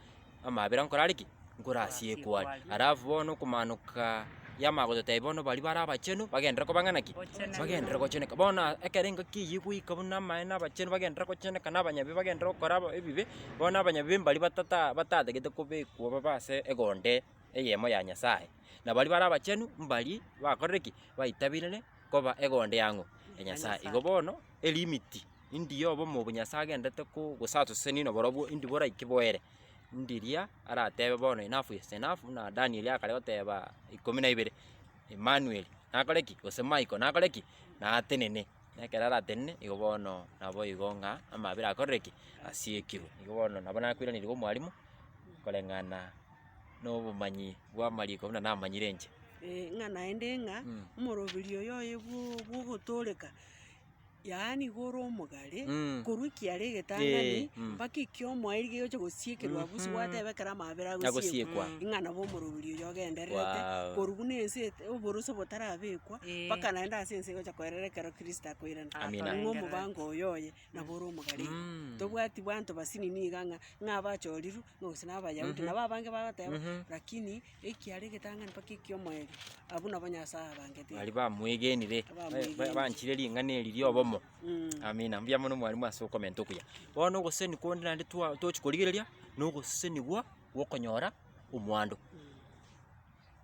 amabera nkorare ki? Nkorasiekwe are. Alafu bono okomanoka yamanya gototebia bono baria bare abachenu bagenderere koba ng'ana ki? Bagenderere gocheneka. Bono aa ekero engaki eyio egoika buna amaene na abachenu bagenderere gocheneka na abanyabibe bagenderere gokora aba ebibe, bono abanyabibe mbaria batata batatagete kobekwa babe ase egonde eyemo ya Nyasaye. Na baria bare abachenu mbaria bakorire ki? Baitabirire koba egonde ya ng'o? Ya Nyasaye. Igo bono elimit. Indi ya obomo obo Nyasae agenderete ko- gose asosenie nabarobwo, indi boraike boere. Indi eria aratebe bono enough is enough, buna Danieli akare goteba ikomi na ibere, Emmanueli nakore ki? gose Michael nakore ki? natenene. Na ekero aratenene, igo bono nabo igo ng'a amabera akorire ki? asiekirwe. Igo bono nabo nakoiraneria iga omwalimu, koreng'ana na obomanyi bw'amariko buna namanyire inche. Ee, ng'a naende ng'a, omoroberio oyoye bwo- bwogotooreka. yaani iga ore omogare, Mm. korwa ekiara Eh, egetang'ani, mm. mpaka ekio omoerio kegocha gosiekerwa abwo, ase Mhm. gwateba ekero amabera agosiekwa, Agosiekwa. ng'a nabo omorobori oyio ogendererete, Wow. korwa buna ense ete- oborose botarabekwa, Eh. mpaka naende ase ense egocha koerera ekero Kristo akoirana. Amina. Ng'a omobango oyo oye, nabo ore omogare iga. Mm. Tobwati banto basinini iga ng'a, ng'a abachorirwe, ng'a gose na Abayahudi, Mhm. nabo abange bagoteba, Mhm. lakini ekiara egetang'ani mpaka eki'omoerio, abwo nabo Nyasae abangete. Baria bamwegenire, ba- ba- Abamwegenire. banchire ring'ana eri ri'obomo. Mm. Amina, mbuya mono mwarimu ase okomenta okuya. Bono ogoseseni konde naende twa- tochi korigereria, na ogosesenigwa gw'okonyora omwando.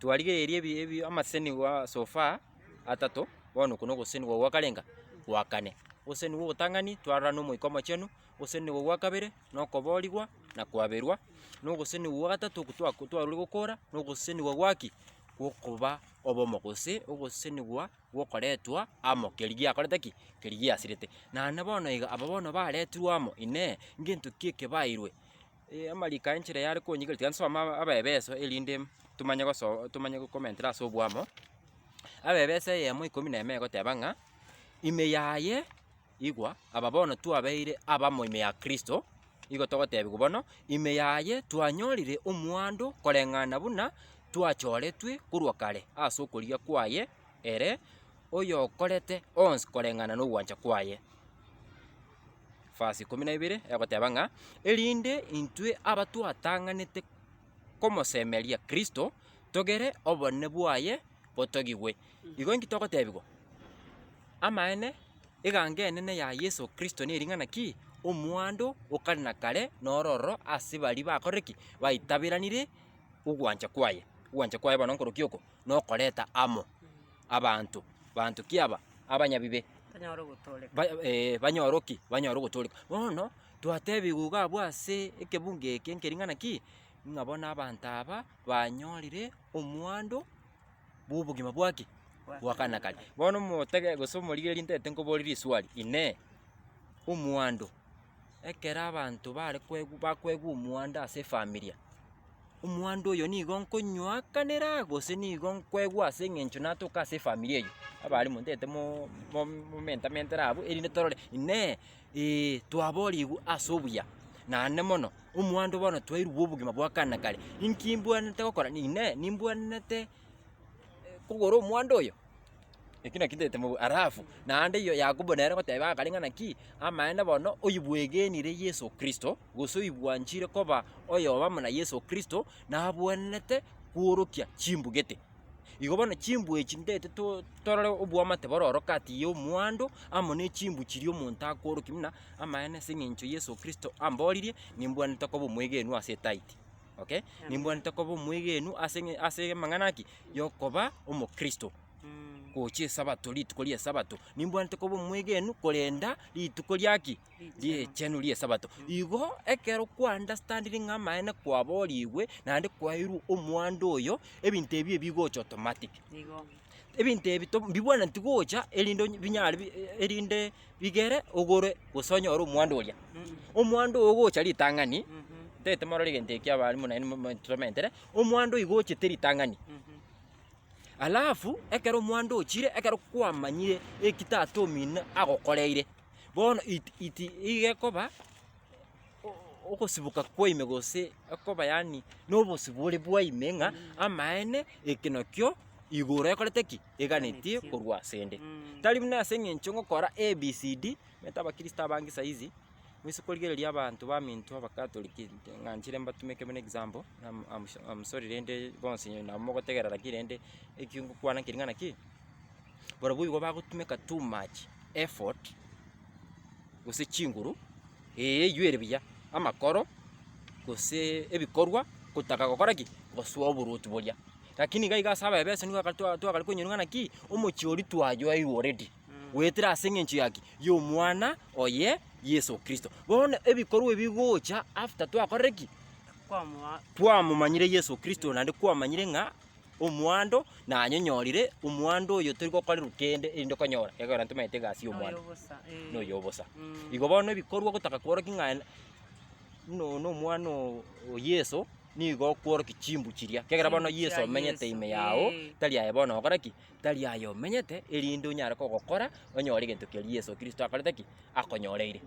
Twarigereiri ebi- ebi amaseseni gwa so far atato, bono oko na ogoseseni gwa gwa karenga, gwa kane. Ogoseseni gwa ogotang'ani, twarora na Omoika Omochenu, ogoseseni gwa gwa kabere. na okoboorigwa, na kwaberwa, na ogosesenigwa gwa gatato okwo twako twarorire gokora, na ogosesenigwa gwa ki? Gwokoba obomo gose ogosesenigwa gwokoretwa amo keria giakorete ki? Keria giasirete. Naende bono iga aba bono baretirwe amo, inee, ngento ki ekebaeirwe? Ee amariko aya enchera yare konyika tiga nsome aba abaebeso erinde tomanye goso tomanye gokomentera ase obwamo, abaebeso eyemo ikomi na emo egoteba ng'a, Ime yaye. Igwa, aba bono twabeire abamo ime ya Kristo, igo togotebigwa bono, Ime yaye twanyorire omwando koreng'ana buna twachoretwe korwa kare ase okorigia kwaye ere oyokorete onsi koreng'ana nogwancha kwaye. Verse ikomi na ibere egoteba ng'a erinde intwe abatwatang'anete komosemeria Kristo togere obonene bwaye botogigwe. Igo inki togotebigwa? Amaene, eganga enene ya Yeso Kristo nering'ana ki? Omwando o kare na kare noro ororo ase baria bakorire ki? Baitaberanire ogwancha kwaye. Ogwancha kwaye bono nkorokio oko? Nokoreta amo abanto. Banto ki aba? Abanyabibe. Banyare ogotooreka. Ba- eh, banyore ki? Banyore ogotooreka. Bono, twatebigwa iga abwo ase ekebungo eke nkering'ana ki? Ng'a bono abanto aba banyorire omwando. bw'obogima bwaki? Bw'akana karia. Bono omotege gose omorigereria ntaete nkobore riswali, Inee! Omwando, ekero abanto bare kwegwa bakwegwa omwando ase efamilia, omwando oyo nigo nkonywaakanera gose nigo nkwegwa ase eng'encho natoka ase efamilia eyio? Abaria montaete mo- mo- momentamentere abwo erinde torore, Inee! Ee, twaboorigwe ase obuya, naende mono, omwando bono twairwe obogima bwa kare na kare. Inki imbwenerete gokora? Inee! Nimbwenerete kogora omwando oyo? Ekio nakio ntaete mobe. Alafu naende iyo Yakobo nere goteba akare ng'a naki, amaene bono oyobwegenire Yeso Kristo, gose oyobwanchire koba oyoba muna Yeso Kristo, nabwenerete kworokia chimbugete. Igo bono chimbwa echi ndete to torore oboamate bororo kati ya omwando amo ne chimbwa chiria omonto akoorokia buna amaene ase eng'encho Yeso Kristo amboririe, nimbwanete koba omwegenwa ase etaiti, okay? Nimbwanete koba omwegenwa ase eng'e ase amang'ana ki? Yokoba omokristo gochia esabato rituko ri'esabato, nimbwanete koba omwegenwa korenda rituko ria ki? ri'Richenu ri'Esabato. Igo ekero kwaunderstandire ng'a amaene kwaborigwe naende kwaeirwe omwando oyo, ebinto ebi ebigocha automatic. Ebinto ebi to- mbibwenereti gocha erinde onye- binyare bi- erinde bigere ogore gose onyore omwando oria. Omwando oyo ogocha ritang'ani, ntagete morore egento ekio abarimu naende mo- mo- tomentere, omwando oyo gochete ritang'ani. Alafu, ekero omwando ochire, ekero kwamanyire eki tata omino agokoreire. Bono it- it iga ekoba o- ogosiboka kwaino gose ekoba yaani na obosio bore bwaino ng'a amaene eke nakio igoro ekorete ki? Eganetie korwa asende. Tari buna ase eng'encho ngokora ABCD, omanyete abakristo abange saizi, moise korigereria abanto baminto abakatoliki nte ng'a nchire mbatumeke buna example, am- am- am sorry rende bonsi nabo mogotegerera ki rende, ekio ngokwana keri ng'a naki. Barabwo igo bagotumeka too much effort gose chinguru, ee eywo ere buya, amakoro gose ebikorwa gotaka gokora ki? Gosoa oboruoti boria. Lakini iga iga ase abaye b'esoni goaka twa twagara konyorwa ng'a naki, omochie oria twayoeirwe already, goetera ase eng'encho ya ki? Y'omwana oye Yeso Kristo. Bono ebikorwa ebi bigocha after twakorire ki? twamomanyire Yeso Kristo naende kwamanyire ng'a. omwando, na nanyonyorire omwando oyo tori gokorerwa kende, erinde konyora ekero ntomanyete egasi ya omwando Noyobosa, eh. noyo obosa. Mm. Igo bono ebikorwa ogotaka kworokia ng'a en- buna oyo nomwana oo o Yeso, nigo okworokia chimbu chiria, ekiagera bono Chimbu chia Yeso omenyete Yeso, ime yao, eh. tari aye bono ogokora ki? Tari aya omenyete, erinde onyare kogokora, onyore egento keria Yeso Kristo akorete ki? Akonyoreire.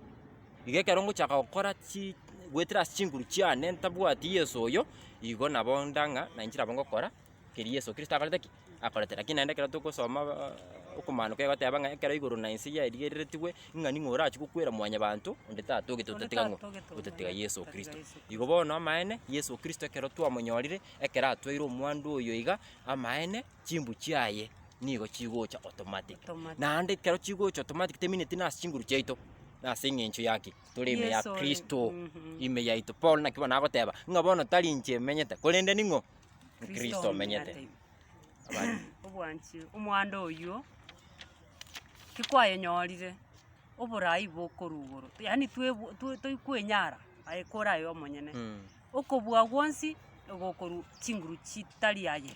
Igo ekero ngochaka gokora chi goetera ase chinguru chiane ntabwati Yeso oyo, igo nabo ndang'a nainche nabo ngokora keria Yeso Kristo akorete ki? Akorete. Lakini naende ekero togosoma baa okomaanoka egoteba ng'a ekero igoro na inse yaerigereretigwe, ng'a ning'o orachie gokwera mwanyabanto onde tatogete otatiga ng'o? Otatiga Yeso Kristo. Igo bono amaene, Yeso Kristo ekero twamonyorire, ekero atwaire omwando oyo iga, amaene. chimbu chiaye nigo chigocha automatic. Automatic. Naende ekero chigocha automatic temineti nase chinguru chiaito, nase eng'encho ya ki? Tore ime ya Yeso ore. Kristo, Mhm. ime yaito. Paul naki bono nagoteba, ng'a bono tari inche emenyete, korende ning'o? Kristo omenyete. Abande. obwanchire omwando oywo tikwayenyorire oborai bokorwa igoro yaani twebu- twe- toikwenyara aye kore aye omonyene. Mm. okobua gwonsi egokorwa chinguru chitari aye,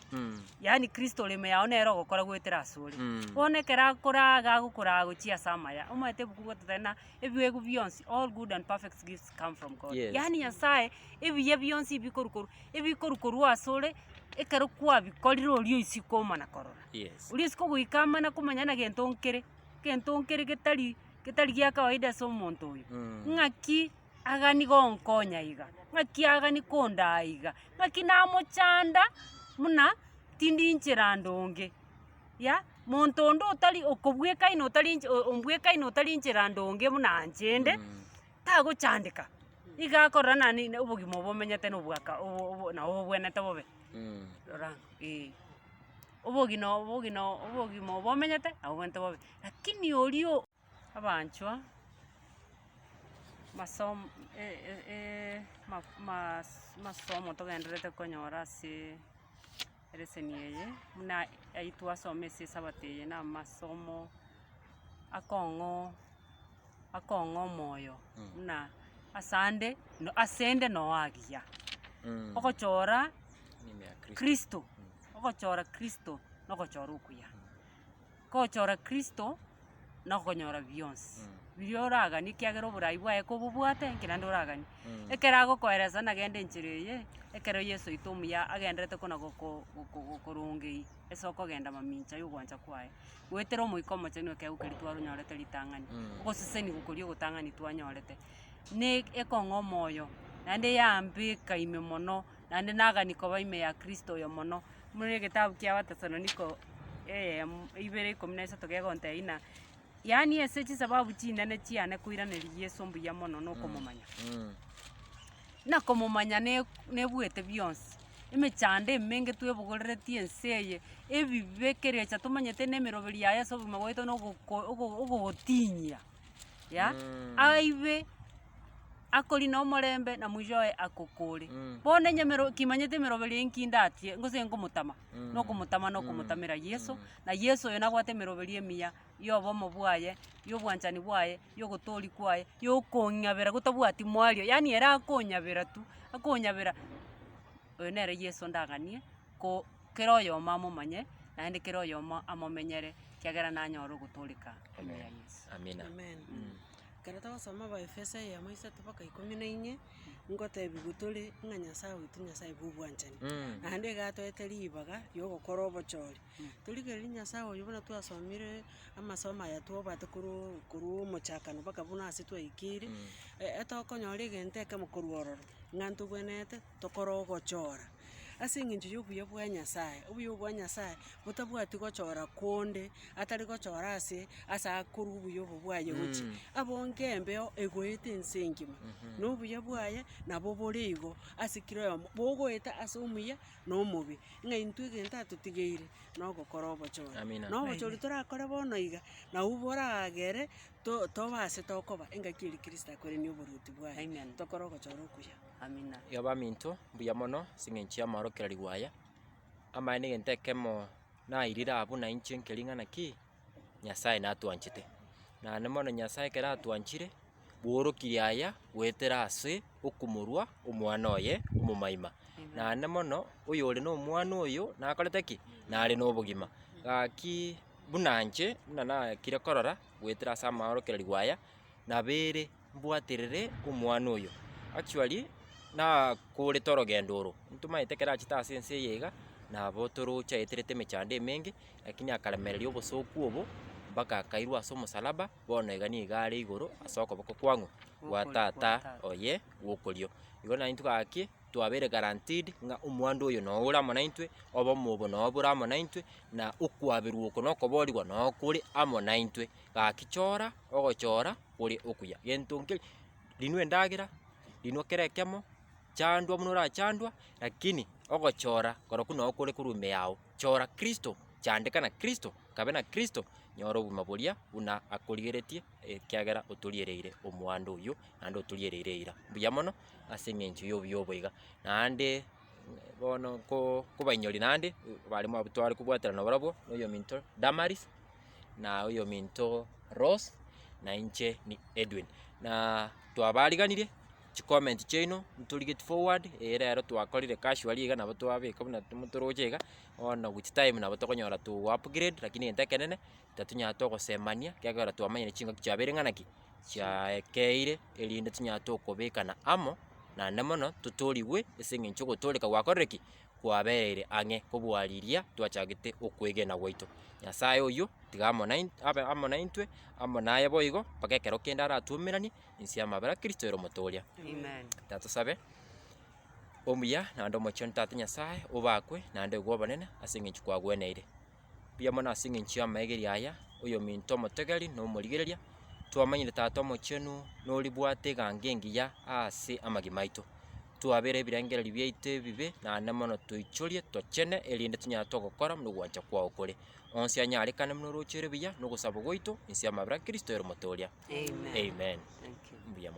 yaani Kristo ore ime yao nere ogokora goetera ase ore. Mm. Bono ekero akoraa iga agokoraa gochia ase amaya, omanyete ebuku gototebia ng'a ebiegwa bionsi, all good and perfect gifts come from God. Yes. Yaani Nyasae ebiya bionsi ebikorwa korwa ebikorwa korwa ase ore, ekero kwabikorire oria oisiko omana korora. Yes. Oria oisiko goika amana komanya na gento nkere, gento nkere getari getari gia kawaida ase omonto oyo. Mm. Ng'aki agani gonkonya iga, ng'aki agani kondaa iga, ng'aki namochanda buna tindinchera ande onge, yah monto onde otari okobwekaina otari nche o- ombwekaina otari nchera ande onge buna anche ende, tagochandeka, iga akorora nane ine obogima obo omenyete na obwaka obo obo nao obwenerete bobe, rora ang'o eeh. Obogina obogina obogima obo omenyete nabo obwenerete bobe, lakini oria o. Abanchwa, masom e- e- e- maf- maas masomo togendererete konyora asee ereseni eye, buna ayio twasoma ase esabato eye na amasomo akong'o akong'o omoyo buna asande no asende no agiya. Ogochora kristo, ogochora kristo nogochora okuya. Gochora Kristo nokonyora bionsi biria oraganie ekiagera oborai bwaye kobobwate enki naende oraganie. Ekero agokoeresa nagende enchera eye, ekero Yeso oito omuya agenderete kona goko goko gokorongei ase okogenda mamincha ya ogwancha kwaye, goetera Omoika Omochenu ekeegu keria twaronyorete ritang'ani, ogosesenigwa koria ogotang'ani twanyorete, ne ekong'oma oyo naende yambeka ime mono naende nagani koba ime ya Kristo oyo mono. Buna egetabu kia Abatesaloniko eyemo ibere ikomi na isato kegontebia ng'a yaani ase chisababu chinene chiane koiraneria Yeso mbuya mono na okomomanya. Buna komomanya ne- nebuete bionsi, emechando emenge twebogoreretie ense eye, ebibe, ekerecha tomanyete na emeroberi yaye ase obogima bwaito na ogoko ogo ogogotinyia. ya aibe akori na omorembe na mwisho oye akokore. Mm. Bono enyamero kimanyete emeroberi eye nkindatie ngose nkomotama Mm. nokomotama nokomotamera Yesu Mm. na Yesu oyo nabwate emeroberi emiya ya obomo bwaye ya obwanchani bwaye ya ogotori kwaye ya okonyabera gotabwati mwario yaani ere akonyabera tu akonyabera oyo nere Yesu ndang'anie ko kera oyomo amomanye, naende kera oyomo amomenyere, ekiagera nanyore ogotooreka ime ya Yeso. Amina. Amen. Ekero togosoma Abaefeso eyemo isato mpaka ikomi na inye, ngotebiwa tore ng'a Nyasae oito Nyasae bw'obwanchani, Mm. naende iga atoete ribaga ri'ogokora obochori. Torigereria Nyasae oyio buna twasomire amasomo aya twabwate korwa o- korwa omochakano mpaka buna ase twaikire, e- etogokonyora egento ekemo korwa ororo, ng'a ntogwenerete. tokore ogochora ase eng'encho y'obuya bwa Nyasae. Obuya obo bwa Nyasae botabwati gochora konde atari gochora ase ase akorwa obuya obo bwaye gochia. Abonge embeo egoeta ense engima, na obuya bwaye nabo bore igo ase kera oyomo, bogoeta ase omuya na omobe. Ng'a intwe egento atotigeire na ogokora obochore. Amina. Na obochori torakore bono iga, nabwo boragere to- tobasete okoba engaki eri Kristo akoirania oboruoti bwaye. Amen. Tokore ogochora okuya. Amina. Iga baminto, mbuya mono as'engencho y'amaorokererigwa aya, amaya negento ekemo nairire abwo na inche nke ring'ana ki, Nyasae natwanchete. Naende mono Nyasae ekero atwanchire, bworokirie aya goetera ase okomorua omwana oye omomaima. Naende mono oyore na omwana oyo nakorete ki? Nare nobogima. Gaki buna inche buna nakire korora goetera as'amaorokererigwa aya, nabere mbwaterere omwana oyo. Actually nakoorete orogendo oro, ntomaete ekero achete ase ense eye iga, nabo toroche aeterete emechando emenge, lakini akaremereria obosooku obo, mpaka akairwa ase omosalaba, bono iga nigo are igoro ase okoboko kwang'u gwa tata oye gw'okorio. Igo naintwe gaki, twabeire guaranteed ng'a omwando oyo noyo ore amo naintwe, obomo obo noyo bore amo naintwe, na okwaberwa oko na okoboorigwa noyo kore amo naintwe. Gaki chora ogochora kore okuya, gento nkeri, rinwa endagera, rinwa kera ekemo, chandwa buna orachandwa, lakini ogochora korokwo nao kore korwa ime yao. Chora Kristo, chandeka na Kristo, kabe na Kristo, nyora obogima boria buna akorigeretie ekiagera otoriereire omwando oyio naende otoriereire eira. Mbuya mono ase eng'encho y'obuya obo iga, naende. bono ko kobainyori naende, baremo abwo tware kobwaterana nabarabwo, na oyominto Damaris, na oyominto Rose, na inche ni Edwin. Na twabariganirie chicomment chiaino ntorigeti forward, eye rero twakorire casually iga nabo twabeka buna timo toroche iga, bono with time nabo tokonyora to upgrade, lakini egento ekenene. tatunyara togosemania, ekiagera twamanyire chingaki chiabeire ng'a naki, chiaekeire, erinde tonyare tokobekana amo, naende mono totoorigwe ase eng'encho ogotooreka gwakorire ki? Kwabereire ang'e kobua riria twachagete okwegena gwaito. Nyasaye oyio tiga amo nain abe amo naintwe, amo naye boigo, mpaka ekero kende aratwomeranie inse y'amabera Kristo ere omote oria. Reka tosabe. Omuya naende omochenu Tata Nyasaye, obakwe naende oigwe obonene ase eng'encho kwagweneire. Mbuya mono ase engencho y'amaegeri aya, oyominto omotegeri na omorigereria, twamanyire Tata Omochenu noribwate egango engiya aase amagima aito. Twabera ebirengererio biaito ebibe naende mono toichorie, tochene, erinde tonyare togokora buna ogwancha kwao kore. Onsi anyarekane buna orooche ruya na ogosaba gwaito, inse y'amabera a Kristo ere omotoria. Amen. Mbuya mono.